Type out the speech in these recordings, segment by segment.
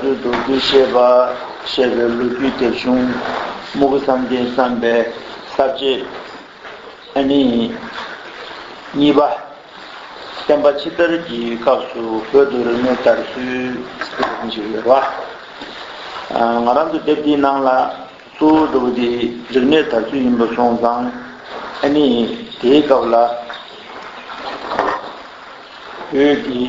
ཚུལ་རྡོ་རྗེ་བཤད་པ་ཞེས་པའི་ལོ་རྒྱུས་དེབ་ཆུང། རྨུག་བསམ་གཏན་བསམ་པའི་གསར་བརྗེ། ཨ་ནི། གཉིས་པ། བསྟན་པ་ཕྱི་དར་གྱི་སྐབས་སུ་བོད་དུ་རིག་གནས་དར་ཚུལ། ཞེས་པའི་དེབ་ཆུང་ཞིག་ཡོད་པ། ང་རང་ཚོ་དེབ་དེའི་ནང་ལ་གཙོ་བོ་འགྲོ་བ་དེ་རིག་གནས་དར་ཚུལ་ཡིན་པ་སོང་ཙང། ཨ་ནི། དེའི་སྐབས་ལ་བོད་ཀྱི།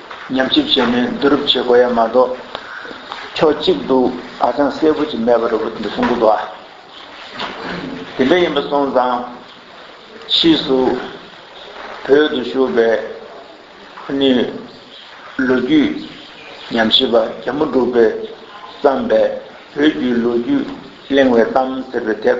ཉམས་ཞིབ་བྱས་ནས་བསྡུ་རུབ་བྱེད་དགོས་ཡ་མ་གཏོགས། ཕྱོགས་གཅིག་ཏུ་ཧ་ཅང་གསལ་པོ་ཅིག་མེད་པ་རེད་བུ་འདི་གསུང་གི་འདུག་ཨ། དེ་འདྲ་ཡིན་པ་སོང་ཙང། ཕྱིས་སུ་བོད་དུ་བཞུགས་པའི་ཁོ་ནི་ལོ་རྒྱུས་ཉམས་ཞིབ་པ་རྒྱ་མོ་འབྲུག་པས་བརྩམས་པའི་བོད་བརྒྱུད་ལོ་རྒྱུས་གླེང་བའི་གཏམ་ཟེར་བའི་དེབ་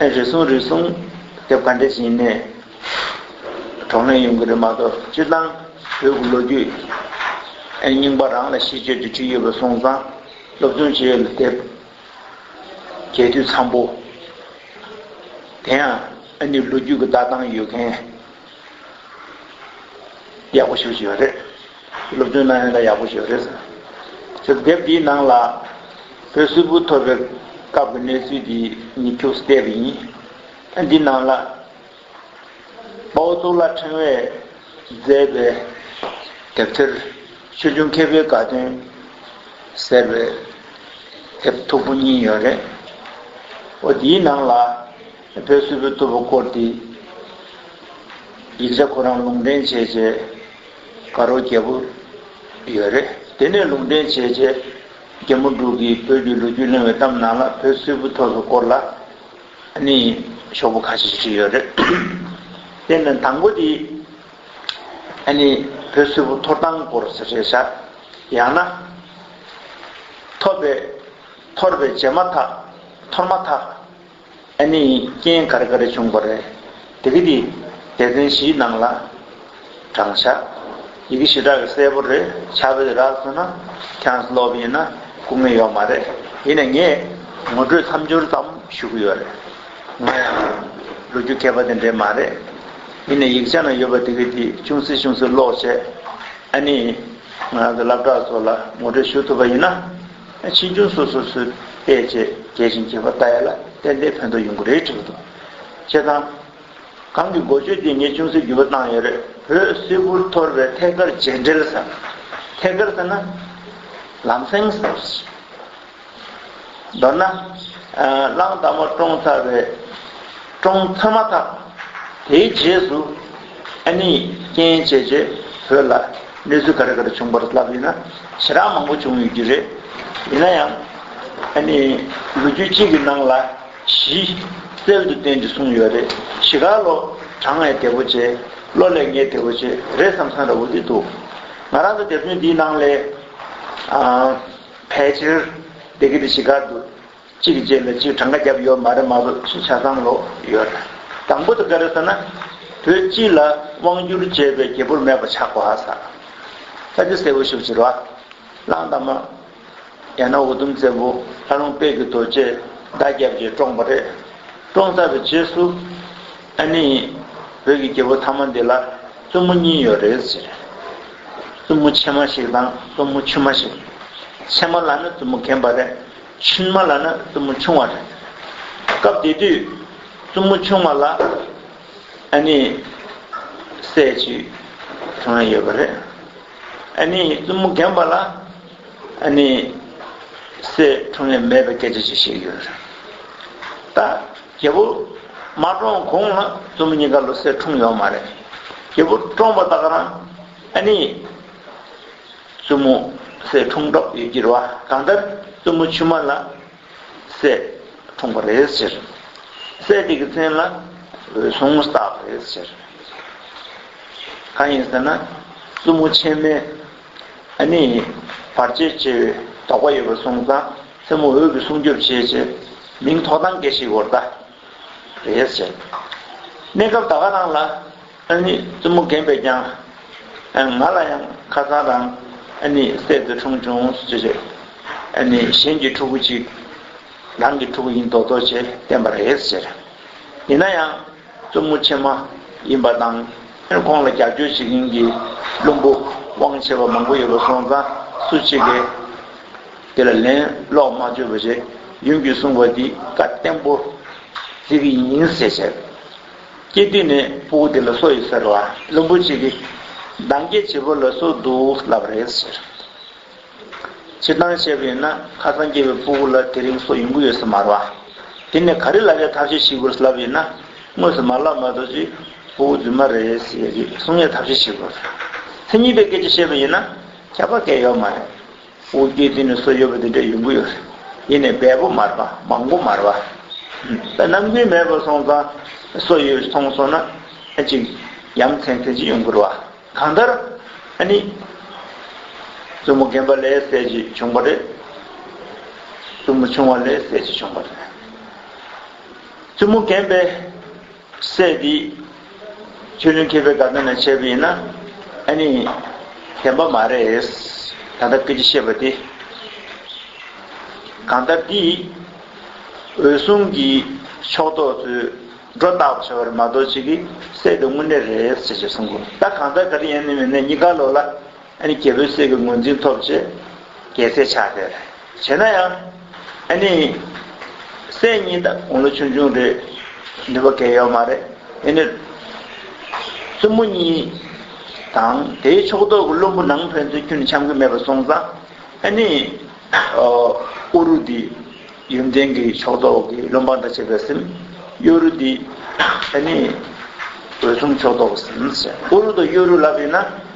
རེ་ཟུང་རེ་ཟུང། དེབ་ག་འདྲའི་ཞིག་ཡིན་ནའི། གྲོགས་ནས་ཡོང་གི་རེད་མ་གཏོགས་སྤྱིར་བཏང་བོད་ཀྱི་ལོ་རྒྱུས། རྙིང་པ་རང་ལ་ཤེས་སྤྱོད་ཀྱི་ཁྲིད་ཡོད་པ་སོང་ཙང་སློབ་སྦྱོང་བྱེད་ཡོད་ལ་དེབ་གས་དུས་འཚམ་པོ། དེ་ཡང་ཨ་ནི་ལོ་རྒྱུས་ཀྱི་ལྟ་སྟངས་ཡོད་མཁན། ཡག་པོ་ཞུ་བཞིན་ཡོད་རེད། སློབ་སྟོན་གནང་ཡོད་ན་ཡག་པོ་ཞུ་རེད། ཟེར་དེབ་འདིའི་ནང་ལ། བོད་སིལ་བུ་ཐོར་བའི་སྐབས་ཀྱི་གནས་ཚུལ་འདི་ཉིད་འཁྱུག་སའི་དེབ་ཡིན། འདི་ནང་ལ། དཔའ་བོ་གཙུག་ལག་ཕྲེང་བས་མཛད་པའི་དེབ་ཐེར། ཆོས་འབྱུང་མཁས་པའི་དགའ་སྟོན། ཟེར་བའི་དེབ་མཐུག་པོ་གཉིས་ཡོད་རེད། འོ་དེའི་ནང་ལ། བོད་སིལ་བུ་རྟུལ་བོ་བསྐོར་ཏེ། ཡིག་ཆ་ཁོ་རང་ལུང་འདྲེན་བྱས་བྱས། དགའ་རོགས་རྒྱལ་པོ་ཡོད་རེད། དེ་ནས་ལུང་འདྲེན་བྱས་བྱས། རྒྱལ་མོ་འབྲུག་གིས་བོད་ཀྱི་ལོ་རྒྱུས་གླེང་བའི་གཏམ་ནང་ལ་བོད་སིལ་བུ་ཐོག་ཏུ་བསྐོར་ལ། ནི། ཤོག་བུ་ཁ་ཤས་ཤིག་བྲིས་ཡོད་རེད། དེ་ནི་དང་པོ་དེ། ནི། བོད་སིལ་བུ་ཐོར་ཐང་བསྐོར་ཟེར་བྱས་བྱས། ཡང་ན། ཐོར་པའི། ཐོར་བའི་བྱས་མ་ཐག། ཐོར་མ་ཐག། ཨ་ནི་རྐྱེན་གར་གར་བྱུང་བ་རེད། དེ་གི་དེ་སྡེ་ཚན་བཞིའི་ནང་ལ། དྲང་བཞག། ཡི་གེ་བཞི་གྲགས་གི་གསལ་པོ་རེད་ཆ་བོད་རགས་སོ་ན་ཁྱངས་སློབ་ཡིན་ན་སྐུ་ངལ་ཡོག་མ་རེད་ཡིན་ནས་ངས་ངོ་སྤྲོད་མཚམས་སྦྱོར་ཙམ་ཞུ་གི་ཡོད་རེད་ང་ཡང་ལོ་རྒྱུ་མཁས་པ་དེ་འདྲས་མ་རེད་ཡིན་ནས་ཡིག་ཆ་ན་ཡོད་པ་དེ་གི་དེ་ཅུང་ཟད་ཅུང་ཟད་ཀློག་བྱས་ཨ་ནི་ང་ཚོ་སླབ་གྲགས་ཚོ་ལ་ངོ་སྤྲོད་ཞུ་ཐུབ་པ་ཡིན་ན། ཕྱིས་འབྱུང་སོ་སོ་སུས་དཔེ་བྱས་རྒྱས་བྱིན་གྱིས་པ་ལྟ་ཡས་ལ་བསྟན་པའི་ཕན་དོ་ཡོང་གི་རེད་དྲིས་པ་དང། བྱེད་སྟངས། གང་གི་འགོ་བརྗོད་དེ་ངས་ཅུང་ཟད་བརྒྱུད་པ་བཏང་ཡོད་རེད། བོད་སིལ་བུར་ཐོར་བའི་ཐད་ཀར་རྗེས་འབྲེལ་ཟེར། ཐད་ཀར་ཟེར་ན། ལམ་སེང་ཟེར། མདོར་ན། གླང་དར་མ་བཀྲོངས་ཚར་བའི། བཀྲོངས་ཚར་མ་ཐག། དེའི་རྗེས་སུ། ཨ་ནི། རྐྱེན་བྱས་རྗེས་བོད་ལ་གནས་ཚུལ་ག་རེ་ག་རེ་བྱུང་བར་ལབ་ཡོད་ན། ཇེ་རག་མང་པོ་བྱུང་ཡོད་རྒྱུ་རེད། ཡིན་ན་ཡང། ཨ་ནི། ལོ་རྒྱུས་གཅིག་གི་ནང་ལ་གཞི། རྩལ་དུ་བརྟེན་ཅེས་གསུངས་ཡོད་རེད། གཞི་ག་ལོ་གྲངས་ལས་དལ་བོ་ཆེ། ལོ་ལས་ངེས་དལ་བོ་ཆེ་རེད་བསམ་བསམ་ར་བོ་དེ་འདུག། ང་རང་ཚོ་དེབ་ཆུང་འདིའི་ནང་ལས། ཨ། ཕལ་ཆེར། སྡེ་དགེ་དེ་གཞི་ག་འདུག། གཅིག་གི་རྗེས་ལ་གཅིག་གྲངས་ཀ་བརྒྱབ་ཡོད་མ་རེད་མ་གཏོགས་ཅི་ཆ་ཚང་ལོག་ཡོད་རེད། དང་པོ་དེ་ག་རེད་ཟེར་ན། བོད་སྤྱི་ལ་དབང་བསྒྱུར་བྱས་པའི་རྒྱལ་པོར་མེད་པ་ཆགས་པ་ཧ་ས་ད་འདི་གསལ་བོ་ཞིག་བྱེད་རོགས་ཨ། གླང་དར་མ། ཡང་ན་འུ་དུམ་བཙན་པོ་ལྷ་ལུང་དཔལ་གྱི་རྡོ་རྗེས་བརྡ་བརྒྱབ་རྗེས་བཀྲོངས་པ་རེད། བཀྲོངས་ཚར་བའི་རྗེས་སུ། ཨ་ནི། བོད་ཀྱི་རྒྱལ་པོ་མཐའ་མ་འདི་ལ་བཙུན་མོ་གཉིས་ཡོད་རེད་ཟེར། བཙུན་མོ་ཆེན་མ་ཞིག་དང་བཙུན་མོ་ཆུན་མ་ཞིག། ཆེན་མ་ལ་ནི་བཙུན་མོ་གན་པ་རེད། ཕྱིན་མ་ལ་ནི་བཙུན་མོ་ཆུང་བ་རེད། སྐབས་དེ་དུས་བཙུན་མོ་ཆུང་བ་ལ་ཨ་ནི་སྲས་གཅིག་གང་ཡོད་པ་རེད། ཨ་ནི་བཙུན་མོ་རྒན་པ་ལ་ཨ་ནི་སྲས་གྲངས་ལས་མེད་པའི་སྐད་ཆ་ཅིག་བཤད་ཀྱི་ཡོད་རེད། ད་རྒྱལ་པོ་མ་བཀྲོངས་གོང་ལ་བཙུན་མོ་གཉིས་ཀ་ལོ་སད་འཁྲུངས་ཡོད་མ་རེད། རྒྱལ་པོ་བཀྲོངས་པ་དག་རང་ཨ་ནི། བཙུན་མོ། སའི་འཁྲུངས་གྲོགས་ཡོད་ཀྱི་རེད་བ། གང་ལྟར་བཙུན་མོ་ཆུང་མ་ལ། སའི། འཁྲུངས་པ་རེད་ཟེར། སའི་དེ་གི་མཚན་ལ། འོད་སྲུང་སྟག་རེད་ཟེར། གང་ཡིན་ཟེར་ན། བཙུན་མོ་ཆེན་མའི། ཨ་ནི། བར་ཆད་ཆེ་བའི་དོགས་པ་ཡོད་པ་སོང་ཙང་མཚན་མོ་འོད་ཀྱི་སྲུང་སྐྱོབ་བྱེད་ཆེད། མིང་ཐོག་ཐང་སྐད་ཞིག་བོར་ད། རེད་ཟེར། གནས་སྐབས་ད་ག་རང་ལ། ཨ་ནི་བཙུན་མོ་རྒན་པས་ཀྱང། ང་ལ་ཡང་ཁ་སང་རང་ཨ་ནི་སྲས་འདི་འཁྲུངས་བྱུང་ཟེར་ཞེས་ཨ་ནི་གཞན་གྱི་ཕྲུ་གུ་ཅིག་རང་གི་ཕྲུ་གུ་ཡིན་མདོག་མདོག་བྱས་བསྟན་པ་རེད་ཟེར། ཡིན་ན་ཡང་བཙུན་མོ་ཆེན་མ་ཡིན་པ་དང་ཁོང་ལ་རྒྱབ་སྐྱོར་བྱེད་མཁན་གྱི་བླུན་པོ་དབང་ཆེ་བ་མང་པོ་ཡོད་པ་སོང་ཙང་སུ་ཆེ་གེ་དེ་ལ་ལན་སློག་མ་བཅོས་པ་ཞེས་ཡུམ་གྱིས་གསུངས་པ་འདི་བཀའ་བསྟན་པོ་ཟེར་གྱི་ཡིན་ཟེར་བྱས། སྐྱེས་དུས་ནས་སྤུ་བོ་དེ་ལ་སོ་ཡོད་ཟེར་ལ་བླུན་པོ་གཅིག་གིས། འདང་སྐྱེས་བྱེད་པོ་ལ་སོ་འདུག་ལབ་པ་རེད་ཟེར། སྤྱིར་བཏང་བཤད་པ་ཡིན་ན་ཁ་སང་སྐྱེས་པའི་སྤུ་བོ་ལ་དེ་རིང་སོ་ཡོང་གི་ཡོད་ས་མ་རེད། དེ་ནས་ག་རེ་ལ་ཡ་ཐབས་ཤེས་ཤིག་དགོས་ས་ལབ་ཡོད་ན། དངོས་སུ་མ་ལབ་མ་གཏོགས་ཀྱི་སྤུ་བོ་རྫུན་མ་རེད་ཟེར་ཡོད་ཀི་གསུང་ངས་ཐབས་ཤེས་ཤིག་དགོས། མཚན་ཉིད་པའི་སྐད་ཆ་བཤད་པ་ཡིན་ན་ཁྱད་པར་སྐད་ཡོད་མ་རེད། དབུ་རྒྱན་འདི་ནི་སོ་ཡོད་པ་འདི་འདྲའི་ཡོང་གི་ཡོད་རེད། ཡིན་ནས་འབལ་པོ་མར་པ་མང་པོ་མར་བ། ནམ་རྒྱུན་མེད་པར་སོང་ཙང་སོ་ཡོད་མཐོང་སོང་ན་ཅིག་ཡ་མཚན་མཚན་ཅིག་ཡོང་གི་རེད་བ། གང་ལྟར། ཨ་ནི། བཙུན་མོ་རྒན་པ་ལས་སད་ཅིག་བྱུང་བ་རེད། བཙུན་མོ་ཆུང་བ་ལས་སད་ཅིག་བྱུང་བ་རེད། བཙུན་མོ་རྒན་པས་སྲས་འདི། ཆོས་ལུང་མཁས་པའི་དགའ་སྟོན་ལས་བྱས་པ་ཡིན་ན། ཨ་ནི། བདེན་པ་མ་རེད། ད་ལྟ་སྐད་ཆ་བཤད་པ་དེ། གང་ལྟར་འདི། འོད་སྲུང་གི་ཕྱོགས་གཏོགས་ཚོས་སྒྲོ་བཏགས་པ་བྱ་བ་རེད་མ་གཏོགས་ཅི་གི་སྲས་འདི་དངོས་གནས་རེད་ཅེས་གསུང་དགོས། ད་གང་ལྟར་ག་རེ་ཡིན་ནི་མིན་ནི་གཉིས་ཀ་ལོག་ལ། ཨ་ནི་རྒྱལ་པོའི་སྲས་ཀྱི་ངོས་འཛིན་ཐོབ་ཅེས་རྒྱལ་སྲས་ཕྱག་དེར་བྱེད་ན་ཡང། ཨ་ནི། སྲས་གཉིས་དང་དགུང་ལོ་ཆུང་ཆུང་རེད། ནུས་པ་འགལ་ཡོད་མ་རེད། ཨེ་ནི། བཙུན་མོ་གཉིས། དང་དེའི་ཕྱོགས་གཏོགས་ཀྱི་བློན་པོ་ནང་ཕན་ཚུན་ཁྱོད་ནི་འཆམ་གི་མེད་པ་སོང་ཙང། ཨེ་ནི། ཨོ་རུ་དི། ཡོན་ཏན་གྱི་ཕྱོགས་གཏོགས་ཀྱི་བློན་འབངས་འདྲ་བྱེད་པའི་སེམས། གཡོ་རུ་དི། ཨེ་ནི། འོད་སྲུང་ཕྱོགས་གཏོགས་ཀྱི་སེམས། ཨོ་རུ་དང་གཡོ་རུ་ལབ་ཡིན་ན།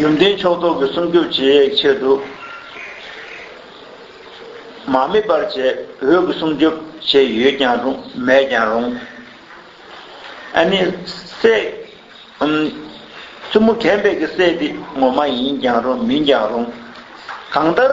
ཡོན་ཏན་ཕྱོགས་རྟོགས་ཀྱི་སུམ་ཅུ་རྗེས་ཡེག་ཕྱེད་དུ། མ་དམིགས་པར་བྱེད་འོས་ཀྱི་སུམ་ཅུ་ཕྱེད་ཡོད་ཀྱང་རུང་མེད་ཀྱང་རུང། ཨ་ནི། སའི། བཙུན་མོ་གན་པས་ཀྱི་སའི་དེ་ངོ་མ་ཡིན་ཀྱང་རུང་མིན་ཀྱང་རུང། གང་ལྟར།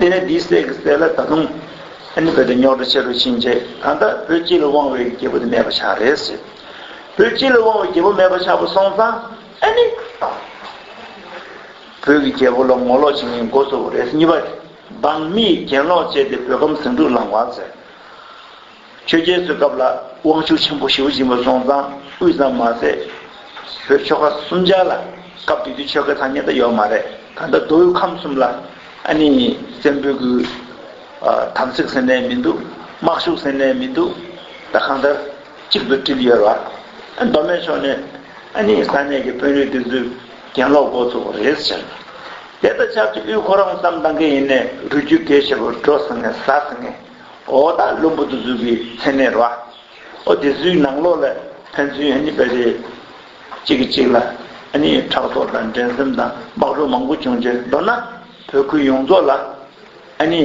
དེ་ནས་དེའི་སྲས་ཀྱི་སྲས་ལ་ད་དུང་ཨཱ་ནི་བོད་དུ་ཉོག་དྲ་ཆེ་རུ་ཕྱིན་རྗེས་ད་ལྟ་བོད་སྤྱི་ལ་དབང་བའི་རྒྱལ་པོ་དེ་མེད་པ་ཆགས་རེད་ཟེར། བོད་སྤྱི་ལ་དབང་བའི་རྒྱལ་པོ་མེད་པ་ཆགས་པ་སོང་ཙང་ཨཱ་ནི། བོད་ཀྱི་རྒྱལ་པོ་ལ་ངོ་ལོག་བྱེད་མཁན་མགོ་གཙོ་བོ་རེད་ཟེར་གཉིས་པ། འབངས་མིས་གྱེན་ལོག་བྱས་ཏེ་བོད་ཁམས་ཟིང་འཁྲུག་ལངས་བ་ཟེར། ཆོས་རྒྱལ་ཚོའི་སྐབས་ལ་དབང་ཕྱུག་ཆེན་པོ་ཞེའུ་སྦྱིན་པ་སོང་ཙང་དབུས་ཙམ་མ་ཟད། བོད་ཆོལ་ཁ་གསུམ་ཆ་ལ་སྐབས་དེ་དུས་ཆོལ་ཁའི་ཐ་སྙད་དུ་ཡོད་མ་རེད་ད་ལྟ་མདོ་དབུས་ཁམས་གསུམ་ལ་ཨ་ནི་བཙན་པོའི་གུ། དམ་ཚིག་ཟེར་ནས་མི་འདུག་དམག་ཤུགས་ཟེར་ནས་མི་འདུག་ད་གང་ལྟར་གཅིག་ཏུ་བསྒྲིལ་ཡོད་ར། མདོ་སྨད་ཕྱོགས་ནས་ཨ་ནི་ས་གནས་ཀྱི་དཔོན་རིགས་དེ་ཚོས་གྱེན་ལོག་འགོ་ཚུགས་པ་རེད་ཟེར། དེ་ལྟར་ཆབ་ཆ་དབུས་ཁོ་རང་ཙམ་འདང་གི་ཡིན་ནས་རུས་རྒྱུད་འགས་ཆེ་བོ་འགྲོ་ཟེར་ངེས་ཟ་ཟེར་ངེས། འོ་ད་བླུན་པོ་དུ་གཟུགས་ཀྱི་མཚན་མེད་རོ། འོ་དེ་གཟུགས་ནང་ལོགས་ལས་ཕན་ཚུན་ཨ་ནི་བས་རེས་གཅིག་གིས་གཅིག་ལ་ཨ་ནི་ཕྲག་དོག་དང་འགྲན་སེམས་དང་སྦགས་བྲོ་མང་པོ་བྱུང་རྗེས་མདོར་ན་བོད་ཁུལ་ཡོངས་རྫོགས་ལ་ཨ་ནི།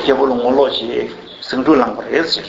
རྒྱལ་པོ་ལ་ངོ་ལོག་ཞེས་ཟིང་འཁྲུག་ལངས་པར་རེས་ཕྱིར།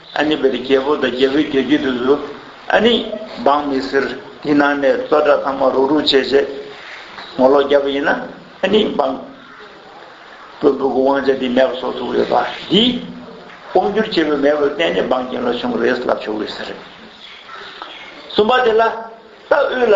ཨ་ནི་བེ་རི་རྒྱལ་པོ་དང་རྒྱལ་བོའི་རྒྱལ་རྒྱུད་དུ་སུ་ཨ་ནི་འབངས་མི་ཟེར་དེ་ནང་ནས་བཙོ་སྦྲ་ཚང་མ་རུག་རུག་བྱས་བྱས་ངོ་ལོག་རྒྱབ་པ་ཡིན་ན་ཨ་ནི་འབངས་བོན་པོ་གི་དབང་ཆ་དེ་མེད་པ་བཟོ་ཐུབ་ཡོད་པ་འདི་དབང་བསྒྱུར་བྱེད་པའི་མེས་པོ་གཏན་ནས་འབངས་རྒྱན་ལ་བྱུང་རེད་ལབ་ཆོག་གི་ཟེར། གསུམ་པ་དེ་ལ་རྟ་དབུས་ལ།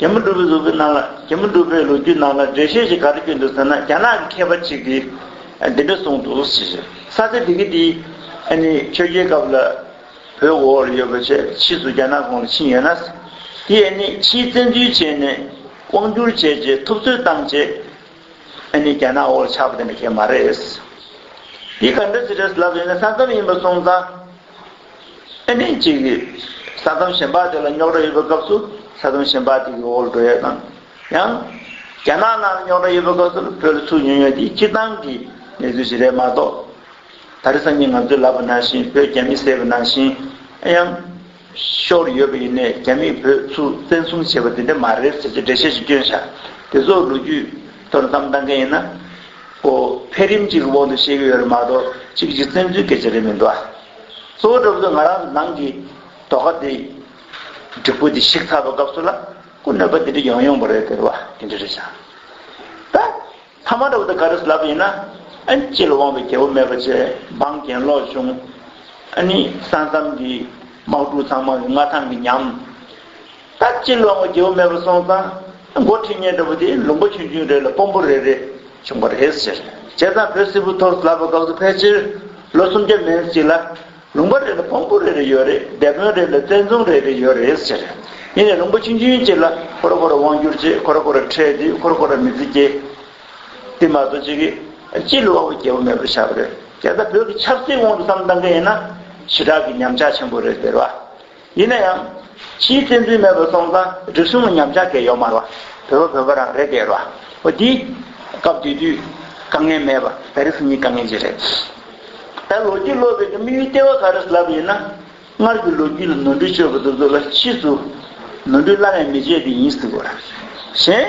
རྒྱ་མི་སྒྲུབ་པའི་ལུགས་ཀྱི་ནང་ལ་རྒྱ་མི་སྒྲུབ་པའི་ལོ་རྒྱུས་ནང་ལ་འགྲེལ་བཤད་ཅིག་ག་རེ་བསྐྱོན་འདུག་ཟེར་ན་རྒྱ་ནག་གི་མཁས་པ་ཅིག་གིས་འདི་འདྲ་གསུངས་འདུག་ཞེས་བཤད། ས་ཆ་དེ་གའི་དེའི་ཨ་ནི་ཆོས་རྒྱལ་སྐབས་ལ་བོད་འོག་ལ་ཡོད་པ་ཆད་ཕྱིས་སུ་རྒྱ་ནག་གོང་ལ་ཕྱིན་ཡོད་ན། དེ་ཨ་ནི་ཕྱིའི་བཙན་འཛུལ་བྱས་ནས་དབང་བསྒྱུར་བྱས་རྗེས་ཐུབ་ཚོད་བཏང་རྗེས་ཨ་ནི་རྒྱ་ནག་འོག་ལ་ཆགས་པ་དེ་འདྲ་ཁས་མ་རེད། དེ་ག་འདྲ་ཞིག་རེད་ལབ་ཡོད་ན་ས་མཚམས་ཡིན་པ་སོང་ཙང། ཨེ་ནས་ཅིག་གིས་ས་དོམ་ཞིན་པ་དེ་ལ་རྙོག་དྲ་ཡོད་པའི་སྐབས་སུ་ས་དོམ་ཞིན་པ་དེ་གི་འོག་ལ་འགྲོ་ཡས་དང། ཡང། རྒྱ་ནག་ནང་ལ་རྙོག་དྲ་ཡོད་པའི་སྐབས་སུ་བོད་ལ་ཚུར་ཉོན་ཡོད་འདི་སྤྱིར་བཏང་གི་གནས་ཚུལ་ཞིག་རེད་མ་གཏོགས། ད་རེས་སང་ཉིན་ང་ཚོའི་ལབ་པ་ནང་བཞིན་བོད་རྒྱ་མི་བསད་པ་ནང་བཞིན། ཡང། ཤོར་ཡོད་པ་ཡིན་ནས་རྒྱ་མིས་བོད་ཚུར་བཙན་བཟུང་བྱས་པ་དེ་འདྲ་མ་རེད་ཟེར་གྱི་འགྲེལ་བཤད་ཅིག་བསྐྱོན་ཤག་དེ་ཚོ་ལོ་རྒྱུས་ཐོག་ལ་བསམ་བཏང་མཁན་ཡིན་ན། ཨོ། འཕེལ་རིམ་ཅིག་གི་དབང་དུ་བཤད་ཀྱི་ཡོད་རེད་མ་གཏོགས་ཅིག་གཅིག་བཙན་འཛུལ་སྐད་ཆ་རེད་མི་འདུག་ཨ། གཙོ་བོ་སྒྲུབ་དགོས་ང་རང་ནང་གི་དོ་ཁ་དེ་འགྲིག་པོ་དེ་ཞིག་ཚར་བ་སྐབས་སུ་ལ་སྐུ་གནོད་པ་དེ་འདྲ་ཡོང་ཡོང་པ་རེད་ཟེར་བ་དེ་འདྲ་རེད་ཤག་ད་ཐ་མ་འདྲ་བོ་དེ་ག་རེ་ལབ་ཡིན་ན་ཨན་སྤྱི་ལ་དབང་བའི་རྒྱལ་པོ་མེད་པ་ཆེ་འབངས་གྱེན་ལོག་བྱུང་ཨ་ནི་ས་མཚམས་ཀྱི་དམག་འཁྲུག་ཚང་མ་མངའ་ཐང་གི་ཉམས། ད་ཅི་ལོག་ངོ་རྒྱལ་བོ་མེད་པར་སོང་ཙང། མགོ་ཁྲིད་གཉེན་འདྲ་བོ་དེས་ལུང་པ་ཆུང་ཆུང་རེ་ལ་སྤོམ་པོ་རེ་རེ་བྱུང་བ་རེད་ཟེར། བྱས་ཙང་བོད་སིལ་བུ་ཐོག་ལབ་པ་འགག་དུ་ཕལ་ཆེར་ལོ་སུམ་བརྒྱ་མན་སྲིད་ལ། ལུང་པ་རེ་ལ་སྤོམ་པོ་རེ་རེ་ཡོད་རེད་སྡེ་དཔོན་རེ་ལ་བཙན་རྫོང་རེ་རེ་ཡོད་རེད་ཟེར། ཡིན་ནས་ལུང་པ་ཆུང་ཆུང་གཅིག་ལ་ཁོ་ར་ཁོ་ར་དབང་བསྒྱུར་བྱེད་ཁོ་ར་ཁོ་ར་ཁྲལ་འདུས་ཁོ་ར་ཁོ་ར་མི་ཚེ་སྐྱེལ། དེ་མ་གཏོགས་ཅི་གི། ཅི་ལོག་ངོ་རྒྱལ་བོ་མེད་པར་བཞག་པ་རེད། གལ་སྲིད་བོད་ཀྱི་ཆབ་སྲིད་དབང་དུ་བསམ་བཏང་གི་ཡིན་ན། ཞི་དྲག་གི་ཉམས་ཆག་ཆེན་པོ་རེད་ཟེར་བ། ཡིན་ན་ཡང། ཕྱིའི་བཙན་འཛུལ་མེད་པར་སོང་ཙང་རེ་ཟུང་ངོ་ཉམས་ཆག་གེ་ཡོག་མར་བ། བོད་པ་བོད་པ་རང་རེད་གེ་རོ། བ་འདི། སྐབས་དེ་དུས། དཀའ་ངལ་མེད་པ་ད་རེས་གཉིས་དཀའ་ངལ་གྱི་རེད། ད་ལོ་རྒྱུས་ཀློག་པའི་དམིགས་ཡུལ་ལྟེ་བ་ག་རེ་ལབ་ཡིན་ན། སྔར་གྱི་ལོ་རྒྱུས་ལ་ནོར་འཁྲུལ་བཅོས་པ་སོ་སོ་ལ་ཕྱིས་སུ། ནོར་འཁྲུལ་བླ་ན་མེད་བཅོས་དེ་ཡིན་སྲིད་དགོས་ར། གཞན།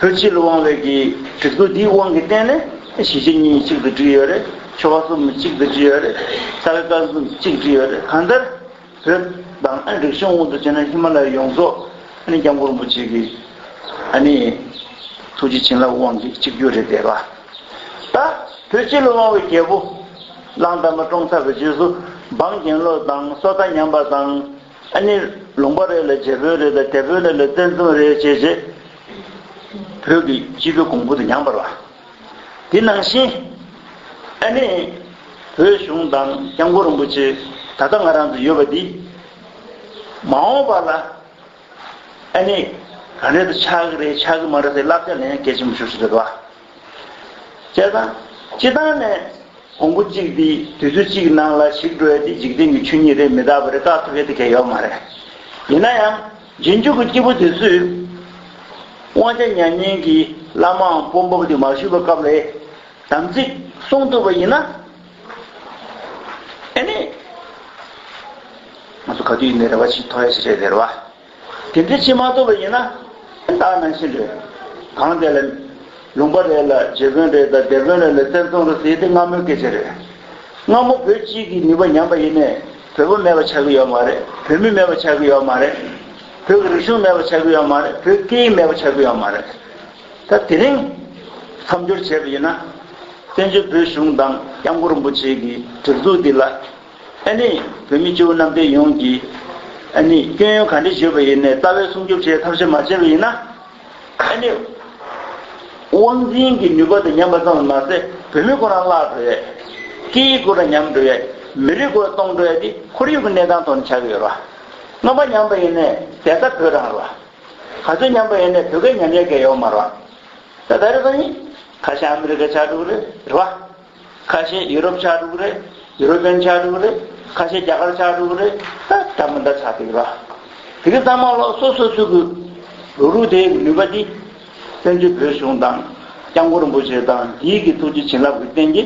བོད་སྤྱི་ལ་དབང་བའི་གི་སྒྲིག་འཛུགས་འདིའི་དབང་གིས་བརྟེན་ནས་གཞིས་བྱེས་གཉིས་གཅིག་ཏུ་བསྒྲིལ་ཡོད་རེད་ཆོལ་ཁ་གསུམ་གཅིག་ཏུ་བསྒྲིལ་ཡོད་རེད་ས་ག་ཀ་གསུམ་གཅིག་བསྒྲིལ་ཡོད་རེད་གང་ལྟར་བོད་དང་རིག་གཞུང་དབང་དུ་བྱས་ན་ཧི་མ་ལ་ཡ་ཡོངས་རྫོགས ྋསྐྱབས་མགོན་རིན་པོ་ཆེ་གི་ཐུགས་རྗེ་བྱིན་རླབས་དབང་གིས་གཅིག་གྱུར་རེད་བསྡད་པ་ད་བོད་སྤྱི་ལ་དབང་བའི་རྒྱལ་པོ་གླང་དར་མ་བཀྲོངས་ཚར་བའི་རྗེས་སུ་འབངས་གྱེན་ལོག་དང་སོ་ལྟ་ཉམས་པ་དང། ཨ་ནི་ལུང་པ་རེད་ལ་རྒྱལ་པོའི་རེད་ལ་དེད་པོའི་རེད་ལ་བཙན་བཙུན་རེད་ཅེས་རྗེ་བོད་ཀྱི་སྤྱི་བོའི་གོང་བུ་དུ་མྱངས་པར་བ། དེ་ནང་བཞིན་ཨ་ནི་བོད་གཞུང་དང་སྐྱབས་མགོན་རིན་པོ་ཆེ་ད་ལྟ་ང་རང་ཚོ་ཡོད་པ་འདི་མ་འོངས་པ་ལ་ཨ་ནི་ག་རེ་དུ་ཆགས་ཀྱི་རེད་ཆགས་ཀྱི་མ་རེད་ཟེར་བསླབ་བྱ་ལེན་གལ་ཆེན་པོ་ཤོར་བཞིན་ཡོད་བ། བྱས་ཙང། སྤྱི་བཏང་ནས། གོང་བུ་གཅིག་འདི་དུས་ཚོད་གཅིག་གི་ནང་ལ་ཞིག་འགྲོ་ཡ་འདི་འཇིག་རྟེན་གྱི་ཆོས་ཉིད་རེད་མི་རྟག་པ་རེད་བཀག་ཐུབ་ཡ་འདི་གལ་ཡོག་མ་རེད། ཡིན་ན་ཡང། རྗེས་འཇུག་གི་སྐྱེས་བུ་དེ་ཚོས། དབང་ཆ་མྱ་ངན་གྱི་བླ་མའམ་དཔོན་པོ་འདི་མ་ཞུས་པའི་སྐབས་ལས། དམ་ཚིག་བསྲུང་ཐུབ་པ་ཡིན་ན། ཨེ་ནས། ང་ཚོ་ག་དུས་ཡིན་ནའི་རེ་བ་ཞིག་མཐོང་ཡ་ཞིག་རེད་ཟེར་བ། དེ་འདི་ཕྱི་མ་གཏོགས་པ་ཡིན་ན། དེ་དག་ནང་བཞིན་རེད། གང་དེ་ལ། ལུང་པ་རེད་ལ་རྗེ་དཔོན་རེད་དང་སྡེ་དཔོན་རེད་ལ་བཙན་བཙོང་རེད་ཟེར་དེ་སྔ་མོའི་སྐད་ཆ་རེད། སྔ་མོ་བོད་སྤྱིའི་གི་ནུས་པ་ཉམས་པ་ཡིན་ནས་བོད་པ་མེད་པ་ཆགས་ཀྱི་ཡོད་མ་རེད་བོད་མི་མེད་པ་ཆགས་ཀྱི་ཡོད་མ་རེད། བོད་ཀྱི་རིག་གཞུང་མེད་པ་ཆགས་ཀྱི་ཡོད་མ་རེད་བོད་སྐད་ཡིག་མེད་པ་ཆགས་ཀྱི་ཡོད་མ་རེད། ད་དེ་རིང། མཚམས་སྦྱོར་བྱས་པ་ཡིན་ན། བཙན་བྱོལ་བོད་གཞུང་དང་དབྱང་གོར་རིན་པོ་ཆེ་གི་སྒྲིག་འཛུགས་འདི་ལ། ཨ་ནི། བོད་མི་སྤྱི་བོ་གནམ་བསྟན་ཡོངས་ཀྱིས། ཨ་ནི། སྐྱོན་ཡོན་ག་འདྲའི་བརྗོད་པ་ཡིན་ནས་རྩ་བའི་སྲུང་སྐྱོབ་བྱེད་ཐབས་ཤེས་མ་བྱས་པ་ཡིན་ན། ཨ་ནི། དབང་འཛིན་གྱི་ནུས་པ་དང་ཉམས་པ་ཙམ་ལ་མ་ཟད་བོད་མི་ཁོ་རང་བརླག་འགྲོ་ཡས། སྐད་ཡིག་དགོས་ར་ཉམས་འགྲོ་ཡས། མི་རིགས་དགོས་ར་སྟོངས་འགྲོ་ཡས་འདི་ཁོར་ཡུག་གི་གནས་སྟངས་ཐོག་ནས་བྱ་གི་ཡོད་ར། རྔམ་པ་ཉམས་པ་ཡིན་ནས་དེ་ལྟ་བོད་རང་ར། ག་ཚོད་ཉམས་པ་ཡིན་ནས་བོད་སྐད་ཉམས་ཡས་སྐད་ཡོག་མ་ར། ད་ད་རེད་པ་ཡིན། ཁ་ཤ་ཨ་མི་རི་ཀ་ཆགས་འགྲོ་གི་རེད་རེད་བ། ཁ་ཤས་ཡུ་རོབ་ཆགས་འགྲོ་གི་རེད། ཡུ་རོ་པེན་ཆགས་འགྲོ་གི་རེད། ཁ་ཤས་རྒྱ་གར་ཆགས་འགྲོ་གི་རེད། ད་ད་མི་འདྲ་ཆགས་འགྲོ་གི་ར། དེ་གི་ཙང་མ་ལོག་སོ་སོ་སུ་གི་རུ་རུ་དེ་གི་ནུས་པ་འདི། བཙན་བྱོལ་བོད་གཞུང་དང། སྐྱབས་མགོ་རིན་པོ་ཆེ་དང་འདིའི་གི་ཐུགས་རྗེ་བྱིན་རླབས་གི་རྟེན་གྱི།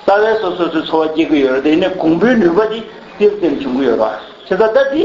རྩ་བའི་སོ་སོ་སུའི་འཚོ་བ་སྐྱེལ་གི་ཡོད་ར་དེ་ནི་གོང་བུའི་ནུས་པ་འདི་ཏིལ་ཏིལ་འབྱུང་གི་ཡོད་ར། ཆེ་ད་ད་འདི།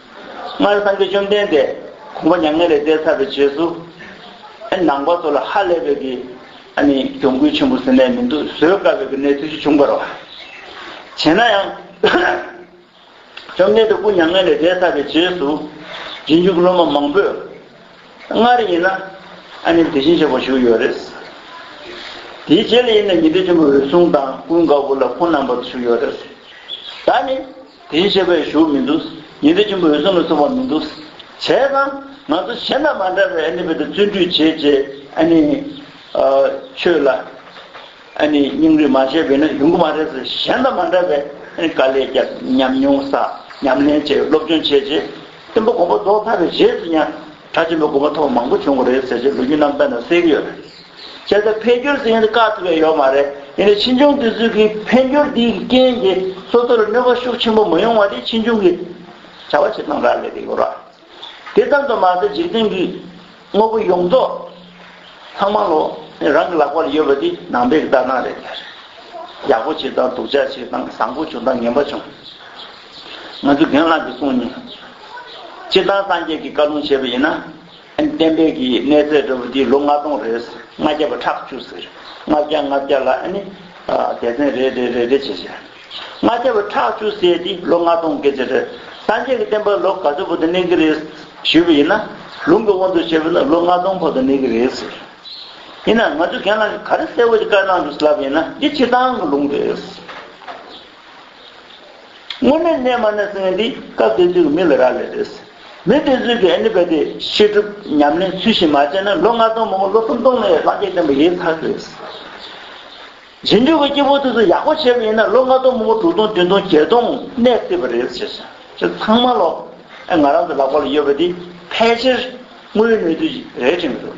སྔར་སངས་རྒྱས་བཅོམ་ལྡན་འདས་ཁོང་པ་མྱ་ངན་ལས་འདས་ཚར་བའི་རྗེས་སུ། ནང་པ་ཚོ་ལ་ཧ་ལས་པའི་གི་གྱོང་གུད་ཆེན་པོ་ཟེར་ནས་མི་འདུག་བཟོད་དཀའ་བའི་གི་གནས་ཚུལ་ཞིག་བྱུང་བར། བྱས་ན་ཡང། བཅོམ་ལྡན་འདས་སྐུ་མྱ་ངན་ལས་འདས་ཚར་བའི་རྗེས་སུ། རྗེས་འཇུག་སློབ་མ་མང་པོས། སྔར་ཡིན་ན། དེ་བཞིན་བྱས་པ་བཞུགས་ཡོད་རེད། དེའི་རྗེས་ལ་ཡིན་ན་ཉི་ཟླ་ཆེན་པོ་འོད་སྲུང་དང་ཀུན་དགའ་བོ་ལ་ཁོང་རྣམ་པ་ཚོ་བཞུགས་ཡོད་རེད། ད་ནི། དེའི་བཤད་པའི་གཞུང་མི་འདུག། ཉི་ཟླ་ཆེན་པོ་འོད་སྲུང་ལ་སོགས་པ་མི་འདུག། བྱས་ཙང། ང་ཚོ་གཞན་དང་མ་འདྲ་བའི་ཨ་ནི་བོད་དུ་བརྩོན་འགྲུས་བྱེད་ཅེས་ཨ་ནི། ཆོས་ལ། ཨ་ནི་སྙིང་རུས་མ་བྱས་པས་ན་ཡོང་གི་མ་རེད་ཟེར་གཞན་དང་མ་འདྲ་བའི་ཨ་ནི་དཀའ་ལས་བརྒྱབ་ཉམས་མྱོང་བསགས་ཉམས་ལེན་བྱས་སློབ་སྦྱོང་བྱས་རྗེས། བསྟན་པ་གོང་འཕོ་ཟློག་ཕར་བའི་རྗེས་སུ་ཡང། གྲྭ་ཆེན་པོའི་དགོན་པ་ཐོག་མང་པོ་བྱུང་གི་རེད་ཟེར་རྗེས་ལོ་རྒྱུས་རྣམས་དཔེ་དང་གསལ་གི་ཡོད་རེད། བྱས་ཙང་འཕེལ་འགྱུར་ཟེར་མཁན་དེ་དཀའ་ཐུབ་ཡ་ཡོད་མ་རེད་ཡིན་ནའི་ཕྱིས་འབྱུང་དུས་ཚོད་ཀྱི་འཕེལ་འགྱུར་འདིའི་རྐྱེན་གྱིས་སོ་སོ་ལ་གནོད་པ་ཤུགས་ཆེན་པོ་མི་ཡོང་བ་དེ་ཕྱིས་འབྱུང་གི་བྱ་བ་བྱེད་སྟངས་རག་ལས་དེ་ཡོད་ར། དེ་ཙམ་དུ་མ་ཟད་འཇིག་རྟེན་གྱི་དངོས་པོ་ཡོངས་རྫོགས་ལྷག་མ་ལོ་རང་གི་ལག་པ་ལ་ཡོད་པ་དེ་ནང་པའི་ལྟ་སྟངས་རེད། ཡག་པོ་བྱེད་སྟངས་སྡུག་ཅག་བྱེད་སྟངས་བཟང་པོ་བྱུང་སྟངས་ངན་པ་བྱུང། ང་ཚོའི་རྒན་ལགས་ཀྱི་གསུང་ནི། སྤྱིར་བཏང་སངས་རྒྱས་ཀྱི་བཀའ་ལུང་བྱེད་པ་ཡིན་ན། བསྟན་པའི་གི་གནས་ཚད་འདྲ་བོ་འདི་ལོ་ལྔ་སྟོང་རེད། ལྔ་བརྒྱ་པ་ཁྲག་བཅུ་ཟེར། ལྔ་བརྒྱ་ལྔ་བརྒྱ་ལ་ཨ་ནི། སྡེ་ཚན་རེ་རེ་རེ་རེ་བྱས་བྱས། ལྔ་བརྒྱ་པ་ཁྲག་བཅུ་ཟེར་འདི་ལོ་ལྔ་སྟོང་སྐད་ཆ་རེད། སངས་རྒྱས་ཀྱི་བསྟན་པ་ལོ་ག་ཚོད་བོ་དུ་གནས་ཀྱི་རེད། ཞུས་པ་ཡིན་ན། ལུང་གི་དབང་དུ་བྱས་པ་ན་ལོ་ལྔ་སྟོང་བོ་དུ་གནས་ཀྱི་རེད་ཟེར། ཡིན་ན་ང་ཚོའི་རྒན་ལགས་ཀྱི་ག་རེ་གསལ་བོ་ཞིག་བཀའ་གནང་འདུག་ཟེར་ལབ་པ་ཡིན་ན་འདི་སྤྱིར་བཏང་གི་ལུང་རེད། དངོས་མེད་རྣལ་མ་ནི་ཚེ་འདི་སྐབས་དེ་ཚོའི་མི་ལ་རག་ལས་རེད། མི་དེ་ཚོས་ཀྱི་ཨཱནི་པ་ཏི་བཤད་སྒྲུབ་ཉམས་ལེན་ཚུལ་བཞིན་མ་བྱས་ན་ལོ་ལྔ་སྟོང་མང་པོ་ལོ་སུམ་སྟོང་ལ་ཡང་སངས་རྒྱས་བསྟན་པ་ཡེ་ཚར་གྱི་རེད། རྗེས་འཇུག་གི་སྐྱེ་བོ་དེ་ཚོ་ཡག་པོ་བྱས་པ་ཡིན་ན་ལོ་ལྔ་སྟོང་མང་པོ་དྲུག་སྟོང་བདུན་སྟོང་བརྒྱད་སྟོང་གནས་སྲིད་པ་རེད། ཅེས་ཚང་མ་ལོ་ཨེ་ང་རང་ཚོ་ལག་པ་ལ་ཡོད་པ་འདི་ཕལ་ཆེར་དངོས་ཡོད་གནས་ཚུལ་རེད་དྲན་གྱི་འདུག།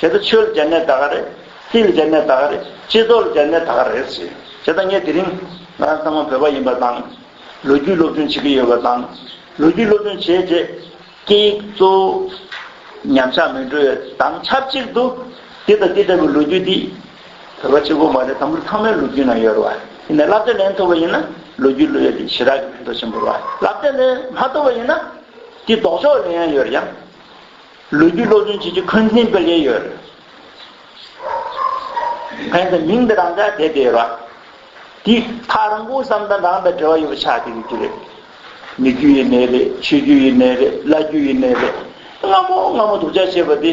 བྱས་ཏེ་ཆོལ་རྒྱལ་ནད་ད་ག་རེད། སྲིད་རྒྱལ་ནད་ད་ག་རེད། སྤྱི་ཚོགས་རྒྱལ་ནད་ད་ག་རེད་ཟེར། བྱས་ད་ངས་དེ་རིང་ང་རང་ཚང་མ་བོད་པ་ཡིན་པ་དང། ལོ་རྒྱུས་སློབ་སྦྱོང་བྱེད་ཀྱི་ཡོད་པ་དང། ལོ་རྒྱུས་སློབ་སྦྱོང་བྱས་རྗེས་སྐད་ཡིག་གཙོ་བོ་ཉམས་ཆག་མི་འགྲོ་བའི་དང་ཆབས་ཅིག་ཏུ། འདི་དང་འདི་ལྟ་བུའི་ལོ་རྒྱུས་འདི་བོད་པ་གཅིག་པོ་མ་རེད་དམ་པོར་ཚང་མའི་ལོ་རྒྱུས་ནང་ཡོད་རེད་བ། དེ་ནས་བསླབ་བྱ་ལེན་ཐུབ་པ་ཡིན་ན་ལོ་རྒྱུས་བློ་ཡོད་དེ་ཞི་དྲག་གི་མིང་ཐོ་ཆེན་པོར་བ། བསླབ་བྱ་ལེན་མ་ཐུབ་པ་ཡིན་ན་དེ་ལྡོག་ཕྱོགས་ལེན་ཡང་ཡོད་རེད་ཡ། ལོ་རྒྱུས་སློབ་སྦྱོང་བྱེད་རྒྱུ་འཁོན་འཛིན་སྤེལ་གྱིན་ཡོད། ཕན་ཚུན་མིང་འདི་རང་ཅག་དད་དེ་ཡོད་པ། དེའི་མཐའ་རང་སྐུ་བསམ་དང་རང་དང་འབྲེལ་བ་ཡོད་པ་ཆགས་ཀྱི་ཡོད་ཀྱི་རེད། མི་རྒྱུ་ཡི་ནས་རེད་ཆོས་རྒྱུ་ཡི་ནས་རེད་བླ་རྒྱུ་ཡི་ནས་རེད་སྔ་མོ་སྔ་མོ་དུག་ཆ་ཤེས་པ་དེ།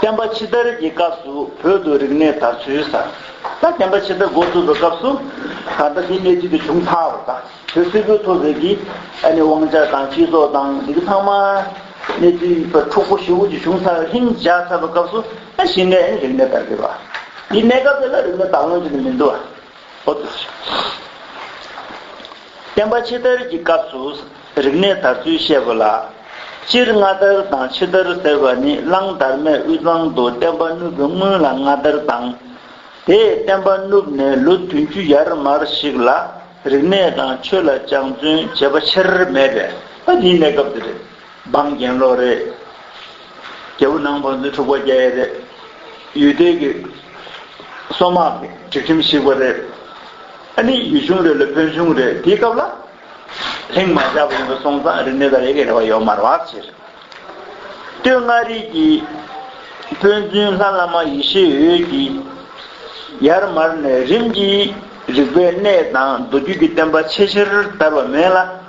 བསྟན་པ་ཕྱི་དར་གྱི་སྐབས་སུ་བོད་དུ་རིག་གནས་དར་ཚུལ་གསལ། ད་བསྟན་པ་ཕྱི་དར་འགོ་བཙུགས་པའི་སྐབས་སུ། ད་ལྟ་དེ་གནས་ཚུལ་དེ་བྱུང་མཐའ་བར་དང་བོད་སིལ་བུའི་མཐོ་ཟེར་གྱི། ཨ་ནི་དབང་ཆ་དང་སྤྱི་ཚོགས་དང་འདི་གི་ཚང་མ། གནས་ཚུལ་པ་འཁྲུག་པོ་ཞི་བོ་ཅིག་བྱུང་མཐའ་བར་ལྷིང་འཇགས་ཚར་བའི་སྐབས་སུ། ཨ་གཞི་ནས་ཨ་ནི་རིག་གནས་དར་གི་བ། ཡི་གནས་སྐབས་དེ་ལ་རིག་གནས་དར་ལོངས་ཅི་ནས་མི་འདུག་ཨ། བསྟན་པ་ཕྱི་དར་གྱི་སྐབས་སུ་རིག་གནས་དར་ཚུལ་བཤད་དགོས་ལ། སྤྱིར་སྔ་དར་དང་ཕྱི་དར་ཟེར་བ་ནི་གླང་དར་མས་དབུས་གཙང་དུ་བསྟན་པ་བསྣུབས་པའི་སྔུན་ལ་སྔ་དར་དང། དེས་བསྟན་པ་བསྣུབས་ནས་ལོ་བདུན་ཅུ་ཡར་མར་ཞིག་ལ་རིག་གནས་དང་ཆོས་ལ་སྦྱང་བརྩོན་བྱེད་པ་ཆེར་མེད་པས། འབངས་གྱེན་ལོག་རེད། རྒྱལ་པོ་ནང་བོན་རྫུན་འཁྲུག་པ་རྒྱ་ཡེ་རེད། ཡུལ་སྡེ་གི་སོ་དམག་གི་སྒྲིག་ཁྲིམས་བཤིག་པ་རེད། ཨ་ནི་ཡུལ་ཆུང་རེད་ལ་བོན་ཆུང་རེད་དེའི་སྐབས་ལ། ལྷིང་མ་བཞག་པ་ཡིན་པ་སོང་ཙང་རིག་གནས་དང་ཡེ་གེ་རེ་བ་ཡོད་མ་རེད་བར་ཕྱིར། སྟོད་མངའ་རིས་ཀྱི་དཔོན་བཙུན་ལྷ་བླ་མ་ཡེ་ཤེས་འོད་ཀྱིས། ཡར་མར་ནས་རིམ་གྱིས་རིག་པའི་གནས་དང་མདོ་རྒྱུད་ཀྱི་བསྟན་པ་ཆེས་ཆེར་དར་བ་མིན་ལ།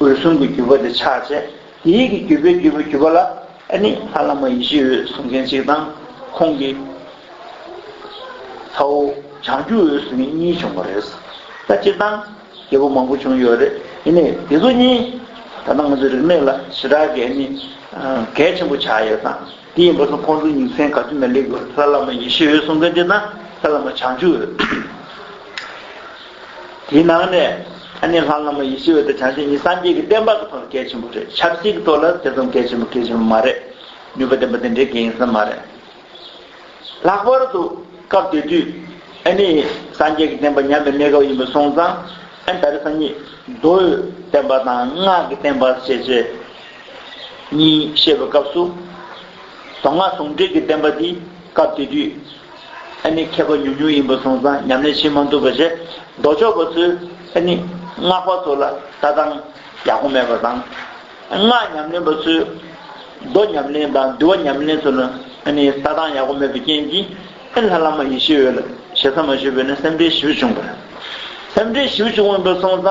འོད་སྲུང་གི་བརྒྱུད་པ་དེ་ཕྱག་བྱས། ཡིད་ཀྱི་བརྒྱུད་པའི་བརྒྱུད་པའི་བརྒྱུད་པ་ལ་ནི་ལྷ་བླ་མ་ཡེ་ཤེས་འོད་སྲུང་མཁན་གཅིག་དང་ཁོང་གི་ཚ་བོ་བྱང་ཆུབ་འོད་སྲུང་གཉིས་གཉིས་བྱུང་བ་རེད། ད་སྤྱིར་བཏང་རྒྱལ་པོ་མང་པོ་བྱུང་ཡོད་རེད། ཡིན་ནའི་དེ་ཚོ་གཉིས་ད་ལྟ་ང་ཚོའི་རིག་གནས་ལ་ཞེ་དྲག་གི་གལ་ཆེན་པོ་ཆགས་ཡོད་དང། དེ་ཡིན་པ་སོགས་ཁོང་ཚོའི་ཉིན་མཚན་ག་དུས་ན་ལེགས་པར་ལྷ་བླ་མ་ཡེ་ཤེས་འོད་སྲུང་དཔལ་ལྡན་དང་ལྷ་བླ་མ་བྱང་ཆུབ་འོད། དེའི་ནང་ནས་ཨ་ནེ་ལྷ་བླ་མ་ཡེ་ཤེས་འོད་དང་བྱང་ཆུབ་གཉིས་སངས་རྒྱས་ཀྱི་བསྟན་པ་ག་ཚོད་ལ་གལ་ཆེན་པོ་རེད་ཆབ་སྲིད་ཀྱི་ཐོག་ལ་དེ་ཙམ་གལ་ཆེན་པོ་གལ་ཆེན་པོ་མ་རེད་ནུས་པ་ལྡན་པ་དེ་འདྲའི་གལ་ཡིན་ས་མ་རེད། ལྷག་པར་དུ་སྐབས་དེ་དུས་ཨ་ནེ་ཡིས་སངས་རྒྱས་ཀྱི་བསྟན་པ་ཉམས་པའི་གནས་སྐབས་ཡིན་པ་སོང་ཙང་ཨ་ནེ་ད་རེས་སངས་རྒྱས་རྡོ་འོད་བསྟན་པ་དང་སྔགས་ཀྱི་བསྟན་པ་ཞེས་བྱས། གཉིས་བཤད་པའི་སྐབས་སུ། གདོང་ལྔ་ཟུང་འབྲེལ་གྱི་བསྟན་པ་འདི་སྐབས་དེ་དུས་ཨེ་ནི་མཁས་པ་ཉུང་ཉུང་ཡིན་པ་བཟུང་ཙང་ཉམས་ལེན་ཕྱིན་མ་འདུག་པ་རེད། མདོ་ཕྱོགས་པ་ཚོས་ཨེ་ནི་སྔགས་པ་ཚོ་ལ་ལྟ་སྟངས་ཡག་པོ་མེད་པ་དང། སྔགས་ཉམས་ལེན་པ་ཚོས་མདོ་ཉམས་ལེན་དང་འདུལ་བ་ཉམས་ལེན་ཚོ་ལ་ཨེ་ནི་ལྟ་སྟངས་ཡག་པོ་མེད་པའི་རྐྱེན་གྱིས་ཨེ་ལྷ་བླ་མ་ཡེ་ཤེས་འོད་ལ་ཞེ་ས་མ་ཞུས་པས་ན་སེམས་ཁྲལ་ཞིབ་བྱུང་བ་རེད། སེམས་ཁྲལ་ཞིབ་བྱུང་བ་བཟུང་ཙང།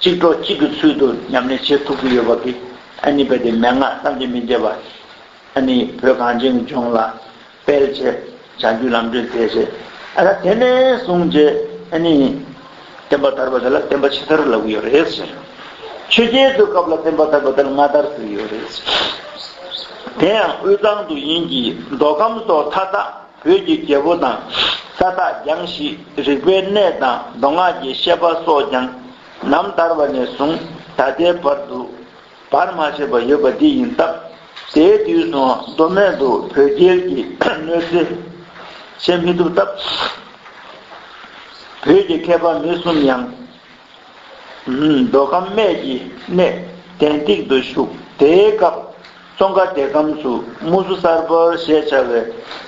གཅིག་གྲོགས་གཅིག་གི་ཚུལ་དུ་མཉམ་གནས་བྱེད་ཐུབ་ཀྱི་ཡོད་པ་འདི་ཨ་ནི་རྦད་དེ་མན་ངག་གཏམ་གྱི་མི་འདྲེས་པ། ཨ་ནི་བོད་གངས་ཅན་གྱི་ལྗོངས་ལ་སྤེལ་བྱེད་བྱང་རྒྱུད་ལམ་སྟོན་མཛད་བྱེད་ཨ་ལ་དེ་ནས་བཟུང་རྗེས་ཨ་ནི་བསྟན་པ་དར་བ་དེ་ལ་བསྟན་པ་ཕྱི་དར་ལབ་ཀྱི་ཡོད་རེད། ཆོས་རྒྱལ་ཚོའི་སྐབས་ལ་བསྟན་པ་དར་བ་དེ་ལ་སྔ་དར་ཟེར་གྱི་ཡོད་རེད། དེ་ཡང་དབུས་གཙང་དུ་ཡིན་གྱི་མདོ་ཁམས་སོགས་མཐའ་དག་བོད་ཀྱི་རྒྱལ་པོ་དང། ས་བདག་རྒྱང་བཞི་རིག་པའི་གནས་དང་མདོ་སྔགས་ཀྱི་བཤད་པ་སོགས་ཀྱང། ནམ་ཟླར་བ་ནས་བཟུང་ད་ལྟའི་བར་དུ། བར་མ་ཆད་པར་ཡོད་པ་འདི་ཡིན་སྟབས། དེའི་དུས་སུའང་མདོ་སྨད་དུ་བོད་རྒྱལ་གྱི་གནོད་འཚེ་བྱེད་མི་ཐུབ་སྟབས། བོད་ཀྱི་མཁས་པ་མི་གསུམ་ཡང། མདོ་ཁམས་སྨད་ཀྱི་གནས་གདན་ཏིག་ཏུ་བཞུགས། དེའི་སྐབས་ཙོང་ཁ་སྡེ་ཁམས་སུ་དམུ་བཟོ་གསར་པ་ཞེས་བྱ་བའི་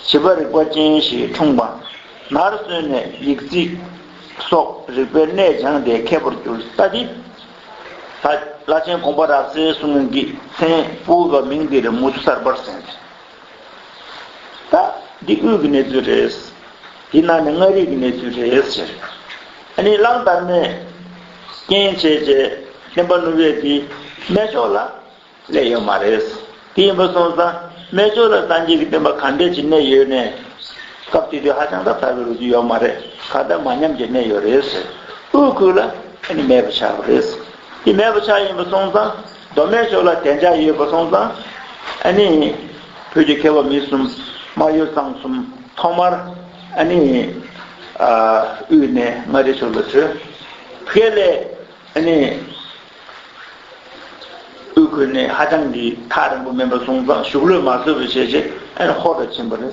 བྱིས་པ་རིག་པ་ཅན་ཞིག་འཁྲུངས་པ། ནར་སོན་ནས་ཡིག་རྩིས་སོགས་རིག་པའི་གནས་སྦྱངས་ཏེ་མཁས་པོར་གྱུར། ལྷ་དེ་ལྷ་ཆེན་ཀོང་པོ་རབ་གསལ་གསུང་གི་མཚན་བུ་བ་མིང་འདིར་དམུ་བཟོ་གསར་པར་གསན། ད། འདི་དབུས་ཀྱི་གནས་ཚུལ་རེད། འདི་ནང་ནས་མངའ་རིས་ཀྱི་གནས་ཚུལ་རེད་ཟེར། ཨ་ནི་གླང་དར་མས། རྐྱེན་བྱས་བྱས་བསྟན་པ་བསྣུབས་བས་དེ་སྨད་ཕྱོགས་ལ། སླེབས་ཡོད་མ་རེད། དེ་ཡིན་པ་སོང་ཙང་སྨད་ཕྱོགས་ལ་སངས་རྒྱས་ཀྱི་བསྟན་པ་གང་འདྲས་ཀྱི་གནས་ཡོད་ནས། སྐབས་དེ་དུས་ཧ་ཅང་ད་དར་བའི་རུ་རྒྱུ་ཡོད་མ་རེད་ཁ་བརྡ་མ་ཉམས་ཀྱི་གནས་ཡོད་རེད་ཟེར། དབུས་ཁུལ་ལ་ཨ་ནི་མེད་པ་ཆགས་པ་རེད། དེ་མེད་པ་ཆགས་ཡིན་པ་སོང་ཙང་མདོ་སྨད་ཕྱོགས་ལ་བདེ་འཇགས་ཡོད་པ་སོང་ཙང། ཨ་ནི། བོད་ཀྱི་མཁས་པ་མི་གསུམ། སྨྲ་ཡོ་ཚང་གསུམ། ཐོག་མར། ཨ་ནི། དབུས་ནས་མངའ་རིས་ཕྱོགས་ལ་བྲོས། བྷེ་ལེ། ཨ་ནི། དབུས་ཁུལ་ནས་ཧ་ཅང་གི་ཐག་རིང་པོ་མིན་པ་སོང་ཙང་ཞུགས་ལོས་མ་བཟོད་པ་བྱས་རྗེས་ཨ་ནི་ཧོར་ལ་ཕྱིན་པ་རེད།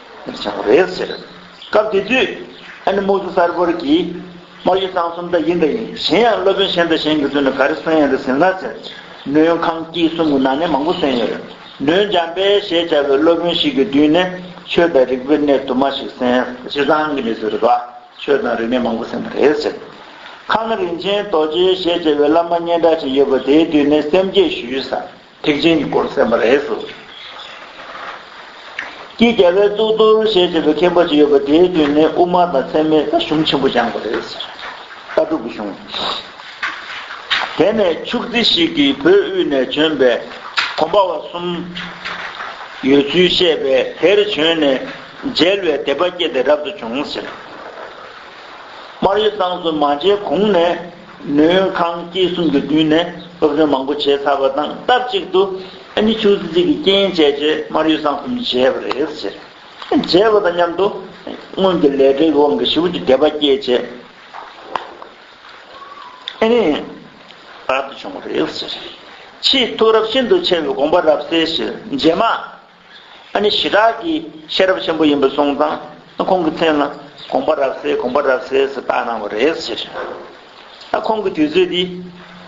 ནས་ཀྱང་རེད་ཟེར། སྐབས་དེ་དུས། ཨ་ནེ་མོ་ཟུ་གསར་བོར་གྱིས། དམར་ཡོལ་གཙང་གསུམ་འདི་ཡིན་འདི་ཡིན་གཞན་ཡང་སློབ་དཔོན་གཞན་དང་གཞན་གྱི་ཚུལ་ནི་ག་རེ་གསན་ཡང་འདི་ཟིན་ལགས་ཟེར། སྣོད་ཡོངས་ཁང་དཀྱིལ་གསུམ་གྱི་ནང་ནས་མང་པོ་གསན་ཡོད་རེད། སྣོད་འཇམ་དཔལ་ཞེས་བྱ་བའི་སློབ་དཔོན་ཞིག་གི་མདུན་ནས་ཆོས་དང་རིག་པའི་གནས་དུ་མ་ཞིག་གསན། ཕྱི་ཚང་གི་མི་ཚོས་རིག་པ་ཆོས་དང་རིག་གནས་མང་པོ་གསན་པ་རེད་ཟེར། ཁང་ནང་རིན་ཆེན་རྡོ་རྗེ་ཞེས་བྱ་བའི་བླ་མ་སྙན་གྲགས་ཅིག་ཡོད་པ་དེའི་མདུན་ནས་སེམས་བསྐྱེད་ཞུས། ཐེག་ཆེན་གྱི་སྐོར་གསན་པ་རེད། ཀྱི་རྒྱལ་བའི་གཙུག་ཏོར་ཞེས་བྱ་བའི་མཁན་པོ་ཞིག་ཡོད་པ་དེའི་དུས་ནས་དབུ་མ་དང་ཚད་མའི་ལྟ་གཞུང་ཆེན་པོ་སྦྱངས་པ་རེད། ལྟ་གྲུབ་ཀྱི་གཞུང། དེ་ནས་ཕྱུགས་རྫི་ཞིག་གིས་བོད་དབུས་ནས་བྱོན་པའི་གོམ་པ་བ་གསུམ་ཡོད་ཚུལ་བཤད་པས་དེར་བྱོན་ནས་མཇལ་བའི་དད་པ་སྐྱེས་ཏེ་རབ་ཏུ་བྱུང། སྨར་ཡེ་སངས་སུ་མ་མཇལ་གོང་ནས། ནུས་ཁང་སྐྱེ་གསུམ་གྱི་མདུན་ནས་སློབ་སྦྱོང་མང་པོ་བྱས་ཚར་བ་དང་སྟབས་གཅིག་ཏུ་ཨ་མྱེ་ཆུང་ཙི་ཙི་གི་རྐྱེན་བྱས་རྗེས་མར་ཡུལ་བཟང་གསུམ་བྱས་པ་རེད། བྱས་པ་དང་མཉམ་དུ་སྔོན་གྱི་ལས་བྲེལ་གྱི་དབང་གིས་ཞི་བ་གྱི་དད་པ་སྐྱེད་བྱེད་རབ་ཏུ་བྱུང་བ་རེད། ཕྱིས་ཐུགས་རབ་ཤིན་ཏུ་ཆེ་བའི་དགོངས་པ་རབ་གསལ་བཞིན་རྗེས་མ་ཨ་ནི་ཞི་དྲག་གི་ཤེས་རབ་ཆེན་པོ་ཡིན་པ་སོང་ཙང་ཁོང་གི་མཚན་ལ་དགོངས་པ་རབ་གསལ་དགོངས་པ་རབ་གསལ་ཟེར་བཏགས་གནང་བ་རེད་ཟེར། ཨ་ཁོང་གི་དུས་ཚོད་འདི་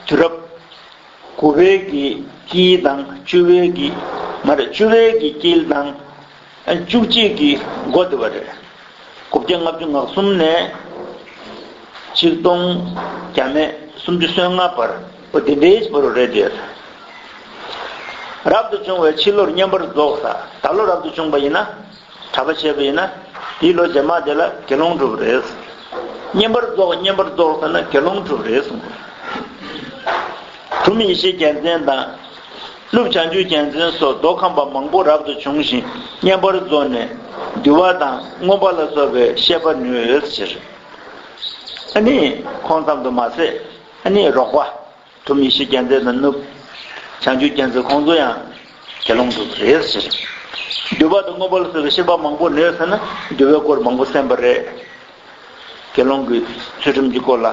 དུས་རབས་དགུ་བའི་གི་དཀྱིལ་དང་བཅུ་བའི་གི་མ་རེད་བཅུ་བའི་གི་དཀྱིལ་དང་བཅུ་གཅིག་གི་མགོ་དེ་བ་རེད། དགུ་བརྒྱ་ལྔ་བཅུ་ངག་གསུམ་ནས་གཅིག་སྟོང་བརྒྱ་མེད་སུམ་ཅུ་སོན་ལྔ་བར། པོ་འདི་འདྲེས་བུ་རུ་རེ་འདིར། རབ་ཏུ་བྱུང་བས་ཕྱི་ལོར་བསྙེན་པར་རྫོགས། ད་ལོ་རབ་ཏུ་བྱུང་བ་ཡིན་ན། གྲྭ་པ་ཆེ་བ་ཡིན་ན། དེའི་ལོ་རྗེས་མ་དེ་ལ་དགེ་སློང་གྲུབ་རེ། བསྙེན་པར་རྫོགས་བསྙེན་པར་རྫོགས་ཟེར་ན་དགེ་སློང་གྲུབ་རེ་གསུངས། གྲུབ་ཡེ་ཤེས་རྒྱལ་མཚན་དང། ཀླུ་བྱང་ཆུབ་རྒྱལ་མཚན་སོགས་མདོ་ཁམས་པ་མང་པོ་རབ་ཏུ་བྱུང་ཞིང་བསྙེན་པར་རྫོགས་ནས། འདུལ་བ་དང་མངོན་པ་ལ་སོགས་པའི་བཤད་པ་ནུས་ཕྱིར། ཨ་ནི། ཁོང་ཙམ་དུ་མ་ཟད། ཨ་ནེ་རོགས་པ། ཐུབ་ཡེ་ཤེས་རྒྱལ་མཚན་མི་ནུབ། བྱང་ཆུབ་རྒྱལ་མཚན་ཁོང་ཚོ་ཡང། དགེ་སློང་དུ་རེད་ཟེར། འདུལ་བ་དང་དངོས་པོ་ལ་སོགས་པའི་ཤེས་པ་མང་པོ་ནོས་ཟེར་ན་འདུལ་བའི་སྐོར་མང་པོ་གསན་པ་རེད། དགེ་སློང་གི་ཚུལ་ཁྲིམས་ཀྱི་སྐོར་ལ།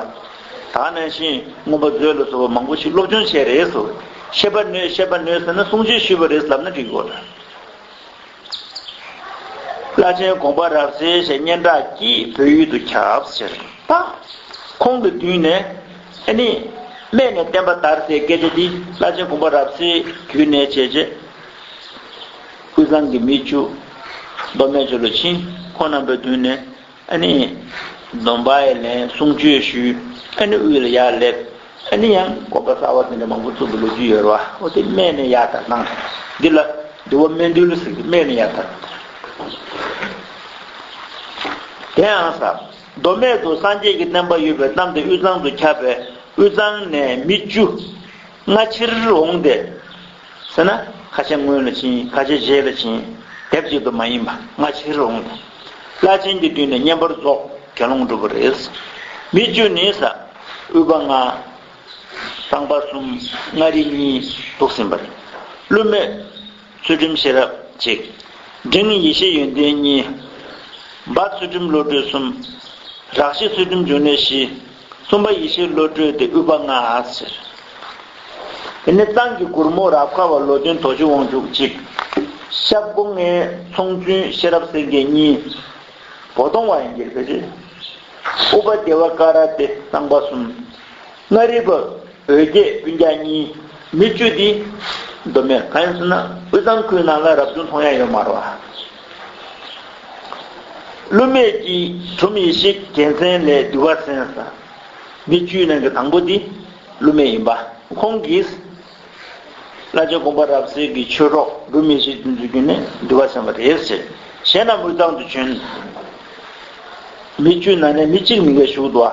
ད་ནང་བཞིན་དངོས་པོ་མཛོད་ལ་སོགས་པ་མང་པོ་ཞིག་སློབ་སྦྱོང་བྱས་རེད་ཟོ། ཤེས་པ་ནོས་ཤེས་པ་ནོས་ཟེར་ན་གསུང་ཆོས་ཞུས་པ་རེད་ཟབ་ན་འགྲིག་གོ། བླ་ཆེན་དགོངས་པ་རབ་གསལ་ཞེས་སྙན་གྲགས་ཀྱིས་བོད་ཡུལ་དུ་ཁྱབ་ཟེར། ཁོང་གི་དུས་ནས་ནི། སྨད་ནས་བསྟན་པ་དར་ཟེར་སྐད་ཆ་འདི་བླ་ཆེན་དགོངས་པ་རབ་གསལ་དུས་ནས་བྱས་རྗེས། ཀུན་བཟང་གི་མི་བཅུ། མདོ་སྨད་ཆོས་ལོ་ཆིང་ཁོང་རྣམ་པའི་དུས་ནས་ཨ་ནི། སྡོམ་པའི་ལན་གསུང་ཆོས་ཞུས། ཨ་ནི་དབུས་ལ་ཡར་སླེབས། ཨ་ནི་ཡང་སྒོམ་པ་གསར་བ་དེ་འདྲ་མང་པོ་བཙུགས་པའི་ལོ་རྒྱུས་ཡོད་རེད་བ། ཨོ་དེ་སྨན་ནི་ཡར་དར་གནང། འདི་ལ་འདི་བ་སྨན་འདུལ་ཟེར་གི་སྨན་ནི་ཡར་དར། དེའང་ས་མདོ་སྨད་དུ་སངས་རྒྱས་ཀྱི་བསྟན་པ་ཡོད་པའི་གཏམ་དེ་དབུས་གཙང་དུ་ཁྱབ་པས་དབུས་གཙང་ནས་མི་བཅུ། སྔ་ཕྱིར་འོངས་ཏེ། ཟེར་ན། ཁ་ཆེ་སྔོན་ལ་བྱིན་ཁ་ཆེ་རྗེས་ལ་བྱིན། དེབ་གཅིག་ཏུ་མ་ཡིན་པ་སྔ་ཕྱིར་འོངས་ཏེ། བླ་ཆེན་གྱི་དུས་ནས་བསྙེན་པར་རྫོགས་དགེ་སློང་སྒྲུབ་པ་རེད། མི་བཅུ་ནི་ས། དབུལ་པ་ལྔ། གཙང་པ་གསུམ་མངའ་རིས་གཉིས་འདུག་ཟིན་པ་རེད། ཀླུ་མེས། ཚུལ་ཁྲིམས་ཤེས་རབ་གཅིག། འབྲིང་ནི་ཡེ་ཤེས་ཡོན་ཏན་གཉིས། འབར་ཚུལ་ཁྲིམས་བློ་གྲོས་གསུམ། རགས་ཤེས་ཚུལ་ཁྲིམས་འབྱུང་གནས་བཞི། གསུམ་པ་ཡེ་ཤེས་བློ་གྲོས་ཏེ་དབུས་པ་ལྔ། འདི་ནི་ཏང་གི་གུར་མོ་རབ་ཁ་བ་ལོ་བདུན་དོ་ཅུ་དབང་ཕྱུག་གཅིག། ཤབ་སྒོ་ལྔའི་ཚོང་བཙུན་ཤེས་རབ་སེང་གེ་གཉིས། བོ་དོང་བ་ཡན་གྱི་ལྷས་བྱེད། དབུས་པ་བདེ་བ་ཀ་ར་ཏེ་གསང་བ་གསུམ། མངའ་རིས་པ། འོད་རྒྱས་སྤུན་རྒྱག་གཉིས། མི་བཅུ་འདི། མདོ་སྨད་བཀའ་ཡང་སོན་ན་དབུས་གཙང་ཁུལ་ནང་ལ་རབ་བྱུང་མཐོང་ཡ་ཡོད་མ་རོ། ཀླུ་སྨད་ཀྱི་གྲུམ་ཡེ་ཤེས་རྒྱལ་མཚན་ལས་འདུལ་བ་གསན་ས། མི་བཅུའི་ནང་གི་དང་པོ་འདི་ཀླུ་སྨད་ཡིན་པ། ཁོང་གིས། བླ་རྗེ་དགོངས་པ་རབ་གསལ་གྱི་ཆོས་གྲོགས་གྲུམ་ཡེ་ཤེས་ཀྱི་འཛུལ་རྒྱུན་ནས་འདུལ་བ་གསན་པ་རེད་ཟེར། གཞན་རྣམས་དབུས་གཙང་དུ་བྱོན། མི་བཅུ་ནང་ནས་མི་གཅིག་མི་འགས་བཞུགས་འདུག་ཨ།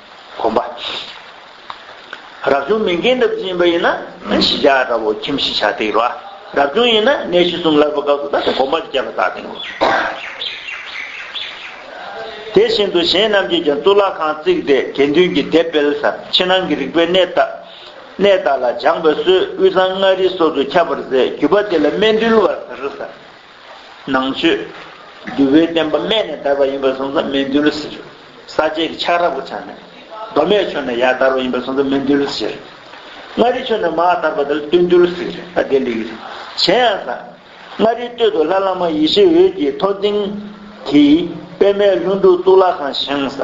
གོམས་པ། རབ་བྱུང་མི་འགལ་འདབ་འཛིན་པ་ཡིན་ན་ཤི་བྱ་ལྟ་བུ་ཁྱིམ་གཞི་བྱ་སྟེགས་རོ། རབ་བྱུང་ཡིན་ན་གནས་གཞི་གསུམ་ལར་བ་སྐབས་སུ་ད་ལྟ་གོམས་པ་བརྒྱད་པ་བཏགས་སྟེ་ངོ། དེ་བཞིན་དུ་གཞན་རྣམས་ཀྱིས་ཀྱང་གཙུག་ལག་ཁང་བརྩིགས་ཏེ་དགེ་འདུན་གྱི་སྡེ་སྤེལ། ཕྱི་ནང་གི་རིག་པའི་གནས་དག་ལ་སྦྱངས་པའི་སྲོལ་དབུས་གཙང་མངའ་རིས་སོགས་སུ་ཁྱབ་པར་མཛད་རྒྱུད་པ་དེ་ལ་སྨད་འདུལ་བ་ཟེར། ནང་མཆོད། བསྡུ་བའི་བསྟན་པ་སྨད་ནས་དར་བ་ཡིན་པར་སོང་ཙང་མི་འདུལ་ཟེར། ས་བཅད་ཀྱི་ཆགས་ར་བོ་ཆགས་ནས། མདོ་སྨད་ཆོས་ནས་ཡར་དར་བ་ཡིན་པར་སོང་ཙང་མི་འདུལ་ཟེར། མངའ་རིས་ཆོས་ནས་མར་དར་བ་དེར་སྟོད་འདུལ་ཟེར། ཨ་དེ་ལེགས། གཞན་ཡང་ཟ། མངའ་རིས་སྟོད་དུ་ལྷ་བླ་མ་ཡེ་ཤེས་འོད་ཀྱི་ཐོག་སྟེང། དེ། པདྨའི་ལྷུན་གྲུབ་གཙུག་ལག་ཁང་བཞེངས། ཟ།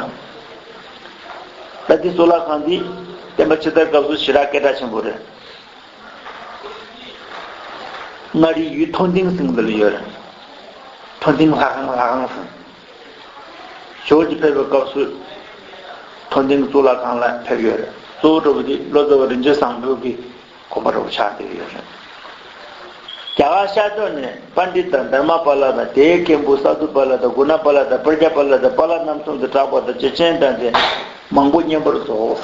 ད་དེ་གཙུག་ལག་ཁང་འདི། བསྟན་པ་ཕྱི་དར་སྐབས་སུ་ཞི་རགས་སྐད་གྲགས་ཆེན་པོ་རེད། མངའ་རིས་ཡུལ་མཐོ་འདིང་སེང་འདི་ལ་ཡོད། མཐོ་འདིང་ལྷ་ཁང་ལྷ་ཁང་སེང། ཞོལ་གྱི་ཕེབས་པའི་སྐབས་སུ། མཐོ་འདིང་གཙུག་ལག་ཁང་ལ་ཕེབས་ཡོད། གཙོ་བོ་གྲོ་བོ་ཏི་བློ་གསལ་བ་རིན་ཆེན་བཟང་པོའི་གི་གོ་འཕར་བ་ཆགས་འདེབས་ཡོད། རྒྱ་གར་ཤར་ཕྱོགས་ནས་པ་འདི་དང་དར་མ་པཱ་ལ་དང་དེའི་སྐད་འབུ་ས་དུ་པཱ་ལ་དང་གུ་ན་པཱ་ལ་དང་པར་རྒྱ་པཱ་ལ་དང་པཱ་ལ་རྣམ་གསུམ་དུ་གྲགས་པ་དང་བཅས་སྤྱན་དྲངས་ཏེ་མང་པོ་བསྙེན་པར་རྫོགས།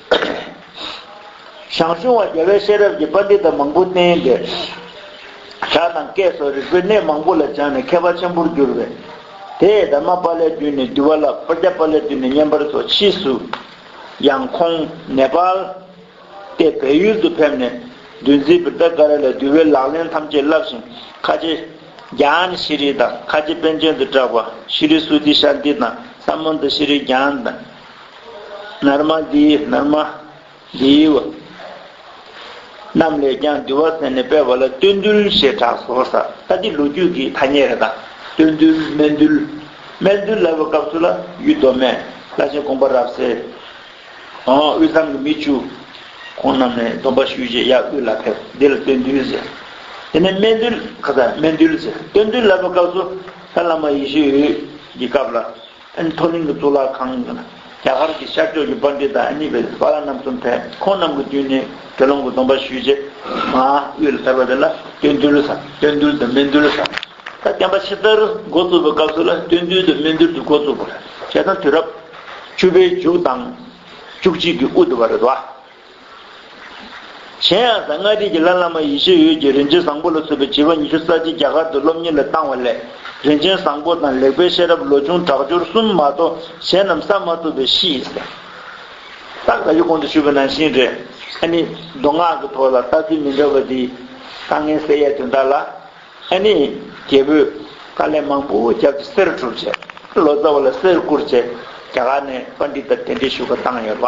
ཞང་ཞུང་བ་རྒྱལ་བས་ཤེས་རབ་ཀྱི་པཱ་ནྡི་ཏ་མང་པོ་བསྟན་ཏེ། ཞྭ་དང་སྐས་སོགས་རིག་པའི་གནས་མང་པོ་ལ་སྦྱངས་ནས་མཁས་པ་ཆེན་པོར་གྱུར་པས། དེས་དར་མ་པཱ་ལའི་མདུན་ནས་འདུལ་བ་བསླབས་པ་རྒྱ་པཱ་ལའི་མདུན་ནས་བསྙེན་པར་སོགས་ཕྱིས་སུ། ཡང་ཁོང་ནེ་པཱལ། ཏེ་བལ་ཡུལ་དུ་ཕེབས་ནས། འདུལ་འཛིན་བིར་ཐ་ཀ་ར་ལས་འདུལ་བའི་ལག་ལེན་ཐམས་ཅད་བསླབས་ཤིང་ཁ་ཆེ། གྱཱན་ཤི་རི་དང་ཁ་ཆེ་པཎ་ཆེན་དུ་གྲགས་པ་ཤི་རི་སུ་ཏི་ཤཱནྟི་དང་ས་མཱན་ཏ་ཤི་རི་གྱཱན། ནར་མ་འདི་ནར་མ། འདིའི་བ། རྣམས་ལས་ཀྱང་འདུལ་བ་ཟེར་ནས་སྤེལ་བ་ལ་སྟོད་འདུལ་ཞེས་གྲགས་སོ། ས་ཏྭ་འདི་ལོ་རྒྱུས་ཀྱི་ཐ་སྙད་རེ་དང། སྟོད་འདུལ་སྨད་འདུལ། སྨད་འདུལ་ལབ་པའི་སྐབས་སུ་ལ་ཡུལ་མདོ་སྨད་བླ་ཆེན་དགོངས་པ་རབ་གསལ། དབུས་གཙང་གི་མི་བཅུ། ཁོང་རྣམས་ནས་སྡོམ་པ་ཞུས་རྗེས་གཡག་དབུས་ལ་ཕེབས་འདི་ལ་སྟོད་འདུལ་ཟེར། དེ་ནས་སྨད་འདུལ་ཁ་ཚ་སྨད་འདུལ་ཟེར་སྟོད་འདུལ་ལབ་པའི་སྐབས་སུ་ལྷ་བླ་མ་ཡེ་ཤེས་འོད་ཀྱི་སྐབས་ལ་མཐོ་གླིང་གི་གཙུག་ལག་ཁང་ཡིན། རྒྱ་གར་གྱི་ཤར་ཕྱོགས་ཀྱི་པཱ་འདྲི་དང་གཉིས་པའི་བྷ་ར་རྣམ་གསུམ་ཕན་ཁོང་རྣམས་ཀྱི་བསྟུན་ནས་དགེ་སློང་གི་སྡོམ་པ་ཞུས་རྗེས། ང་དབུས་ལ་ཐར་པ་དེ་ལ་སྟོན་འདུལ་ས་སྟོན་འདུལ་དང་སྨིན་འདུལ་ས། ད་བསྟན་པ་ཕྱི་ལྟར་འགོ་བཙུགས་པའི་སྐབས་སུ་ལ་སྟོན་འདུལ་དང་སྨིན་འདུལ་དུ་འགོ་བཙུགས་པ་རེད། བྱས་ཙང་དུས་རབས། བཅུ་པའི་མཇུག་དང། བཅུ་གཅིག་གི་དབུ་དུ་བ་རེད་དོ། གཞན་ཡང་གཟའ་ལྔ་རིས་ཀྱི་ལྷ་བླ་མ་ཡེ་ཤེས་འོད་ཀྱིས་རིན་ཆེན་བཟང་པོ་ལ་བསུ་བའི་བྱིས་པ་ཉི་ཤུ་རྩ་གཅིག་རྒྱ་གར་དུ་སློབ་གཉེར་ལ་བཏང་བ་ལས་རིན་ཆེན་བཟང་པོ་དང་ལེགས་པའི་ཤེས་རབ་ལོ་ཆུང་དྲག་སྦྱོར་གསུམ་མ་གཏོགས་གཞན་རྣམས་བསགས་མ་ཐུབ་པས་ཤིས། སྟག་ཟླ་ཡུལ་གོང་དུ་ཞུས་པ་ནང་བཞིན་རེད། ཨ་ནི། མདོ་སྔགས་ཀྱི་ཐོག་ལ་ལྟ་ཚུལ་མི་འདྲ་བ་འདི། དཀའ་ངལ་སེལ་ཡས་དོན་དག་ལ། ཨ་ནི། རྒྱལ་པོས། དཀའ་ལས་མང་པོ་བརྒྱབ་སྟེ་གསེར་བསྒྲུབ་བྱས། ལོ་ཙཱ་བ་ལ་གསེར་བསྐུར་བྱས། རྒྱ་གར་ནས་པ་འདི་ལྟར་གདན་འདྲེན་ཞུ་བ་བཏང་ཡོད་པ།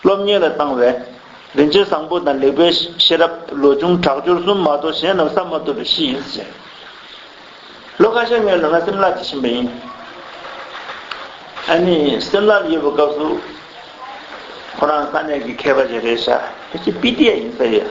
སློབ་གཉེར་ལ་བཏང་བས། རིན་ཆེན་བཟང་པོ་དང་ལེགས་པའི་ཤེས་རབ་ལོ་ཆུང་དྲག་སྦྱོར་གསུམ་མ་གཏོགས་གཞན་རྣམས་བསམ་མ་ཐུབ་པའི་གཤིས་ཡིན་ཟེར། ལོ་ཁ་ཤས་སྔོན་ནས་ང་སིམ་ལ་དུ་ཕྱིན་པ་ཡིན། ཨ་ནི་སིམ་ལ་ལ་ཡོད་པའི་སྐབས་སུ། ཁོ་རང་ས་གནས་ཀྱི་མཁས་པ་རེ་རེའི་ཞབས་ཀྱི་སྤི་ཏི་ཡ་ཡིན་ས་ཡོད།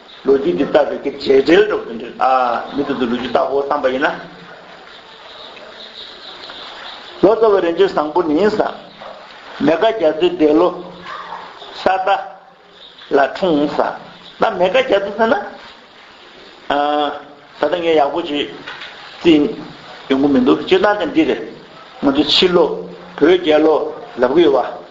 ལོ་རྒྱུས་འདི་ལྟ་བུའི་གེགས་བྱེད་དྲིལ་སྒྲོག་འདི་འདྲི་ཨ། མི་དེ་ཚོ་ལོ་རྒྱུས་བལྟ་འོ་བསམ་པ་ཡིན་ན། ལོ་ཙཱ་བའི་རིན་ཆེན་བཟང་པོ་ནི་ས། མེ་དགའ་རྒྱ་མཚོའི་འདས་ལོ། ས་རྟ། ལ་འཁྲུངས་ས། ད་མེ་དགའ་རྒྱ་མཚོ་ཟེར་ན། ཨ། ད་ལྟ་ངས་ཡག་པོ་བྱེད། རྩིས། ཡོང་གི་མི་འདུག་སྤྱིར་བཏང་དེ་འདི་རེད། ང་ཚོ་ཕྱི་ལོ། བོད་རྒྱལ་ལོ། ལབ་ཀི་ཡོད་པ།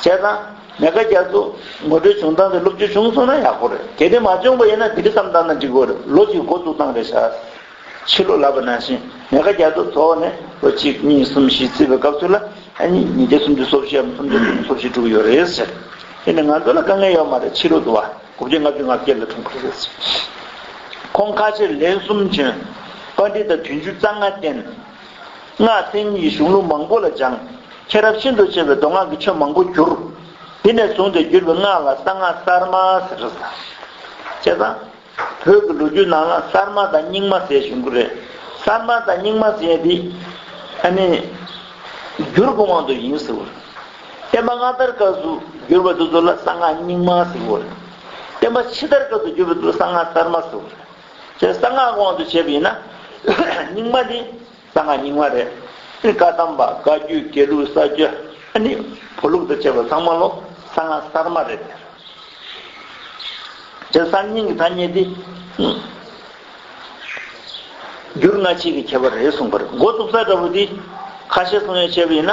བྱས་ཙང། ཉག་ག་རྒྱ་མཚོ། ངོ་སྤྲོད་བྱུང་སྟངས་དེ་སློབ་བྱོལ་བྱུང་སོང་ན་ཡག་པོ་རེད། གལ་ཏེ་མ་བྱུང་པ་ཡིན་ན་དེ་རིང་བསམ་སྟངས་དང་འགྲིག་གོ་རེད་ལོ་གཅིག་འགོ་བཙུགས་སྟངས་རེད་ཤག། ཕྱི་ལོ་ལ་པ་ནང་བཞིན་ཉག་ག་རྒྱ་མཚོ་ཐོག་ནས་ལོ་གཅིག་གཉིས་གསུམ་བཞི་བརྩི་བའི་སྐབས་ཚུན་ལ་ཨ་ཉིས་ཉིས་བརྒྱ་སུམ་ཅུ་སོ་བཞིའམ་སུམ་བརྒྱ་དྲུག་ཅུ་སོ་བཞི་དྲུག་ཡོད་རེད་ཟེར། དེ་ནི་ང་ཚོ་ལ་དཀའ་ངལ་ཡོད་མ་རེད་ཕྱི་ལོ་དུ་བ་དགུ་བརྒྱ་ལྔ་བཅུ་ང་བརྒྱད་ལ་འཁྲུངས་པ་རེད་ཟེར། ཁོང་ཁ་ཆེར་ལན་གསུམ་བྱོན། པར་འབྲི་དང་དུས་འཇུ་རྩ་སྔ་བསྟན། སྔགས་ཕྲེང་གཉིས་གཞུང་ལུགས་མང་པོ་ལ་སྦྱངས། མཁྱེན་རབ་ཤིན་ཏུ་ཆེ་བས་མདོ་སྔགས་ཀྱི་ཆོས་མང་པོ་བསྒྱུར། དེ་ནས་བཟུང་སྟེ་བསྒྱུར་བའི་སྔགས་ལ་གསང་སྔགས་གསར་མ་ཟེར། བྱས་ཙང། བོད་ཀྱི་ལོ་རྒྱུས་ནང་ལ་གསར་མ་དང་རྙིང་མ་ཟེར་བཞིན་གྱི་རེད། གསར་མ་དང་རྙིང་མ་ཟེར་ཡས་དེ། ཨ་ནི། བསྒྱུར་གྱི་དབང་དུ་ཡིན་ཟེར་བ་རེད། བསྟན་པ་སྔ་དར་སྐབས་སུ་བསྒྱུར་བ་དེ་ཚོ་ལ་གསང་སྔགས་རྙིང་མ་ཟེར་བ་རེད། བསྟན་པ་ཕྱི་དར་སྐབས་སུ་བསྒྱུར་བ་དེ་ཚོ་ལ་གསང་སྔགས་གསར་མ་ཟེར་བ་རེད། ཞེས་གསང་སྔགས་དབང་དུ་བྱེད་པ་ཡིན་ན། རྙིང་མ་ནི་གསང་སྔགས་རྙིང་མ་རེད། བཀའ་གདམས་པ་བཀའ་བརྒྱུད་དགེ་ལུགས་ས་བཅུ་ནི་བོ་ལུགས་དང་བཅས་པ་ཚང་མ་ལོ་གསང་སྔགས་གསར་མ་རེད། ཞེས་གསར་རྙིང་གི་ཐ་སྙད་འདི། འགྱུར་སྔ་ཕྱི་གི་ཁྱད་པར་རེད་གསུངས་པར་མགོ་བཙུགས་ས་འདྲ་བོ་འདི། ཁ་བཤད་གསུང་ཡང་བྱས་པ་ཡིན་ན།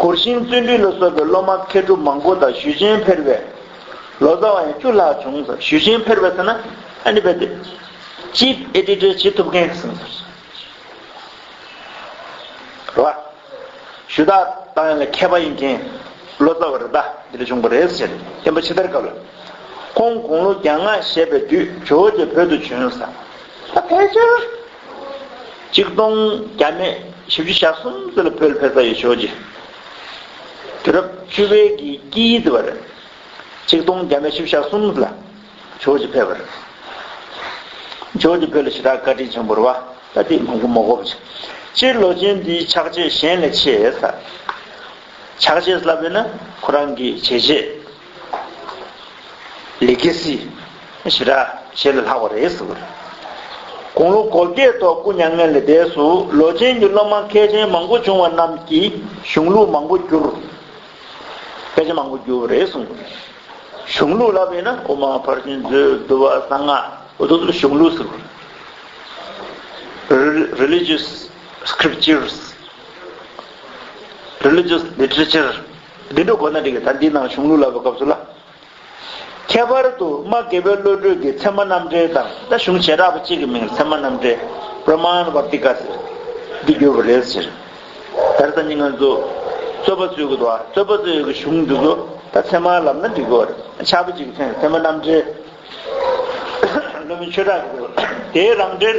གུར་ཤིང་བཙོན་འགྲུལ་ལ་སོགས་པའི་སློབ་མ་མཁས་གྲུབ་མང་པོ་དང་ཞུས་ཆེན་ཕེར་བས། ལོ་ཙཱ་བ་ཡང་བཅུ་ལྷག་བྱུང་ཟེར་ཞུས་ཆེན་ཕེར་བས་ཟེར་ན་ཨ་ནི་བས་ཏེ། Chief Editor བྱེད་ཐུབ་མཁན་ཟེར། རེད་བ། ཞུ་དག་དག་ཡང་ལ་མཁས་པ་ཡིན་མཁན་ལོ་ཙཱ་བ་རེ་ད་འདི་ལ་བྱུང་པ་རེད་ཟེར་བསྟན་པ་ཕྱི་དར་སྐབས་ལ། ཁོང་དགུང་ལོ་གྱ་ལྔ་བཞེས་པའི་དུས་ཇོ་བོ་རྗེ་བོད་དུ་བྱོན་ཟེར། ད་ཕལ་ཆེར། གཅིག་སྟོང་གྱ་མེད་བཞི་བཅུ་ཞག་གསུམ་ཙི་ལ་བོད་འཕེལ་ས་ཡོད་ཆོས་རྗེ་དུས་རབས་བཅུ་བའི་གི་དཀྱིལ་ཙི་བར་གཅིག་སྟོང་གྱ་མེད་བཞི་བཅུ་ཞག་གསུམ་ཙི་ལ་ཆོས་རྗེ་འཕེལ་བར་ཆོས་རྗེ་བོད་ལ་ཞི་དྲག་བཀའ་དྲིན་ཆེན་པོར་བ་ད་ལྟའི་མང་པོ་མོ་གོ་བ་ཆེ་སྤྱིར་ལོ་ཆེན་འདིའི་ཕྱག་རྗེས་གཞན་ལས་ཆེས་ས་ཕྱག་རྗེས་སླ་བས་ན་ཁོ་རང་གིས་བྱས་རྗེས། ལི་ཀེ་སི། ཞི་ར། ཞེས་ལ་ལྷག་བ་རེད་ཟེར་བ་རེད། དགུང་ལོ་གོ་བརྒྱད་ཐོག་སྐུ་མྱ་ངན་ལས་འདས་སུ་ལོ་ཆེན་གྱི་སློབ་མ་མཁས་ཆེན་མང་པོ་བྱུང་བ་རྣམས་ཀྱིས་གཞུང་ལུགས་མང་པོ་བསྒྱུར། དཔེ་ཆ་མང་པོ་བསྒྱུར་བ་རེད་གསུངས་པ་རེད། གཞུང་ལུགས་ལབ་ཡིན་ན་དབུ་མ་ཕར་ཕྱིན་རྫུན་བསྡུ་བ་གསང་སྔགས་འོ་དོ་དོ་གཞུང་ལུགས་ཟེར་བ་རེད། Religious Scriptures Religious Literature། འདི་འགྲོ་དགོས་ན་འགྲིག་ད་འདི་ནང་གཞུང་ལུགས་ལབ་པའི་སྐབས་སུ་ལ། ཁྱད་པར་དུ་རྨ་དགེ་བའི་བློ་གྲོས་ཀྱིས་ཚད་མ་རྣམ་འགྲེལ་དང་ད་གཞུང་བྱེ་བྲག་པ་གཅིག་གི་མིང་ཚད་མ་རྣམ་འགྲེལ། Praman Vartika། ཟེར། འདི་བསྒྱུར་བ་རེད་ཟེར། ད་རེས་ད་ནི་ང་ཚོ་རྩོད་པ་རྩོད་དགོས་འདུག་ཨ་རྩོད་པ་རྩོད་ཡོད་ཀྱི་གཞུང་འདི་ཚོ་ད་ཚད་མར་ལབ་ན་འགྲིག་གི་འོ་རེད་ཆགས་པ་གཅིག་ཚད་མ་རྣམ་འགྲེལ། བློ་མིན་ཆོས་གྲགས་ཀྱི་དེའི་རང་འགྲེལ།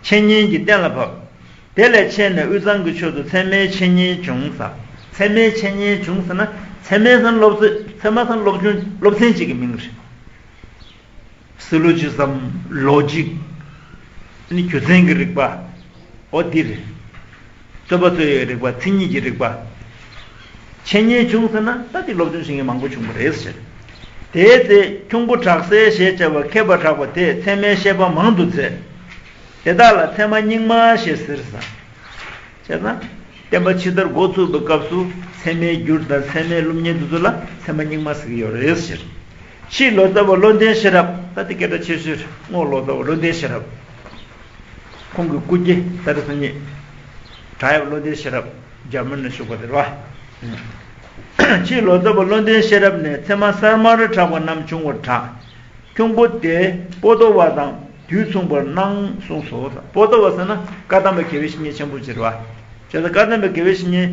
འཆད་ཉན་གྱིས་གཏན་ལ་ཕབ། དེ་ལས་ཕྱེ་ནས་དབུས་གཙང་གི་ཕྱོགས་སུ་ཚད་མའི་འཆད་ཉན་བྱུང་ས། ཚད་མའི་འཆད་ཉན་བྱུང་ས་ན་ཚད་མའི་སང་སློབ་ཚོས་ཚད་མ་སང་སློབ་ཆུང་སློབ་ཚན་གཅིག་གི་མིང་རེད། Syllogism། Logic། ནི་རྒྱུ་མཚན་གྱི་རིགས་པའོ་འདི་རེད། རྩོད་པ་རྩོད་ཡའི་རིགས་པ་མཚན་ཉིད་ཀྱི་རིགས་པ། འཆད་ཉན་བྱུང་ཟེར་ན་ད་ལྟའི་སློབ་སྦྱོང་བྱེད་མཁན་མང་པོ་བྱུང་བ་རེད་ཟེར། དེའི་ཚེ་ཁྱུང་པོ་བྲག་སྲས་ཞེས་བྱ་བ་མཁས་པ་གྲགས་པ་དེས་ཚད་མའི་བཤད་པ་མང་དུ་མཛད། དེ་དག་ལ་ཚད་མ་རྙིང་མ་ཞེས་ཟེར། བྱས་ཙང། བསྟན་པ་ཕྱི་དར་འགོ་ཚུགས་པའི་སྐབས་སུ་ཚད་མའི་འགྱུར་དང་ཚད་མའི་ཀླུ་གཉན་དེ་ཚོ་ལ་ཚད་མ་རྙིང་མ་ཟེར་གྱི་ཡོད་རེད་ཟེར། ཕྱིའི་ལོ་ཙཱ་བ་བློ་ལྡན་ཤེས་རབ་ད་ལྟའི་སྐད་གྲགས་ཆེ་ཤོས་དངོས་ལོ་ཙཱ་བ་བློ་ལྡན་ཤེས་རབ། ཁོང་གི་སྐུ་སྐྱེ་ད་རེས་སོ་གཉིས། བྲག་ཡབ་བློ་ལྡན་ཤེས་རབ་རྒྱ་མི་ནས་བཞུགས་པ་དེར་བ། ཕྱིའི་ལོ་ཙཱ་བ་བློ་ལྡན་ཤེས་རབ་ནས་ཚད་མ་གསར་མ་རུ་གྲགས་པ་རྣམས་བྱུང་བར་གྲགས། ཁྱུང་པོ་དེ་པོ་ཏོ་བ་དང་དུས་མཚུངས་པར་སྣང་གསུངས་སོ། པོ་ཏོ་བ་ཟེར་ན་བཀའ་གདམས་པའི་དགེ་བའི་བཤེས་གཉེན་ཆེན་པོ་ཅེས་པ། བྱས་ཙང་བཀའ་གདམས་པའི་དགེ་བའི་བཤེས་གཉེན།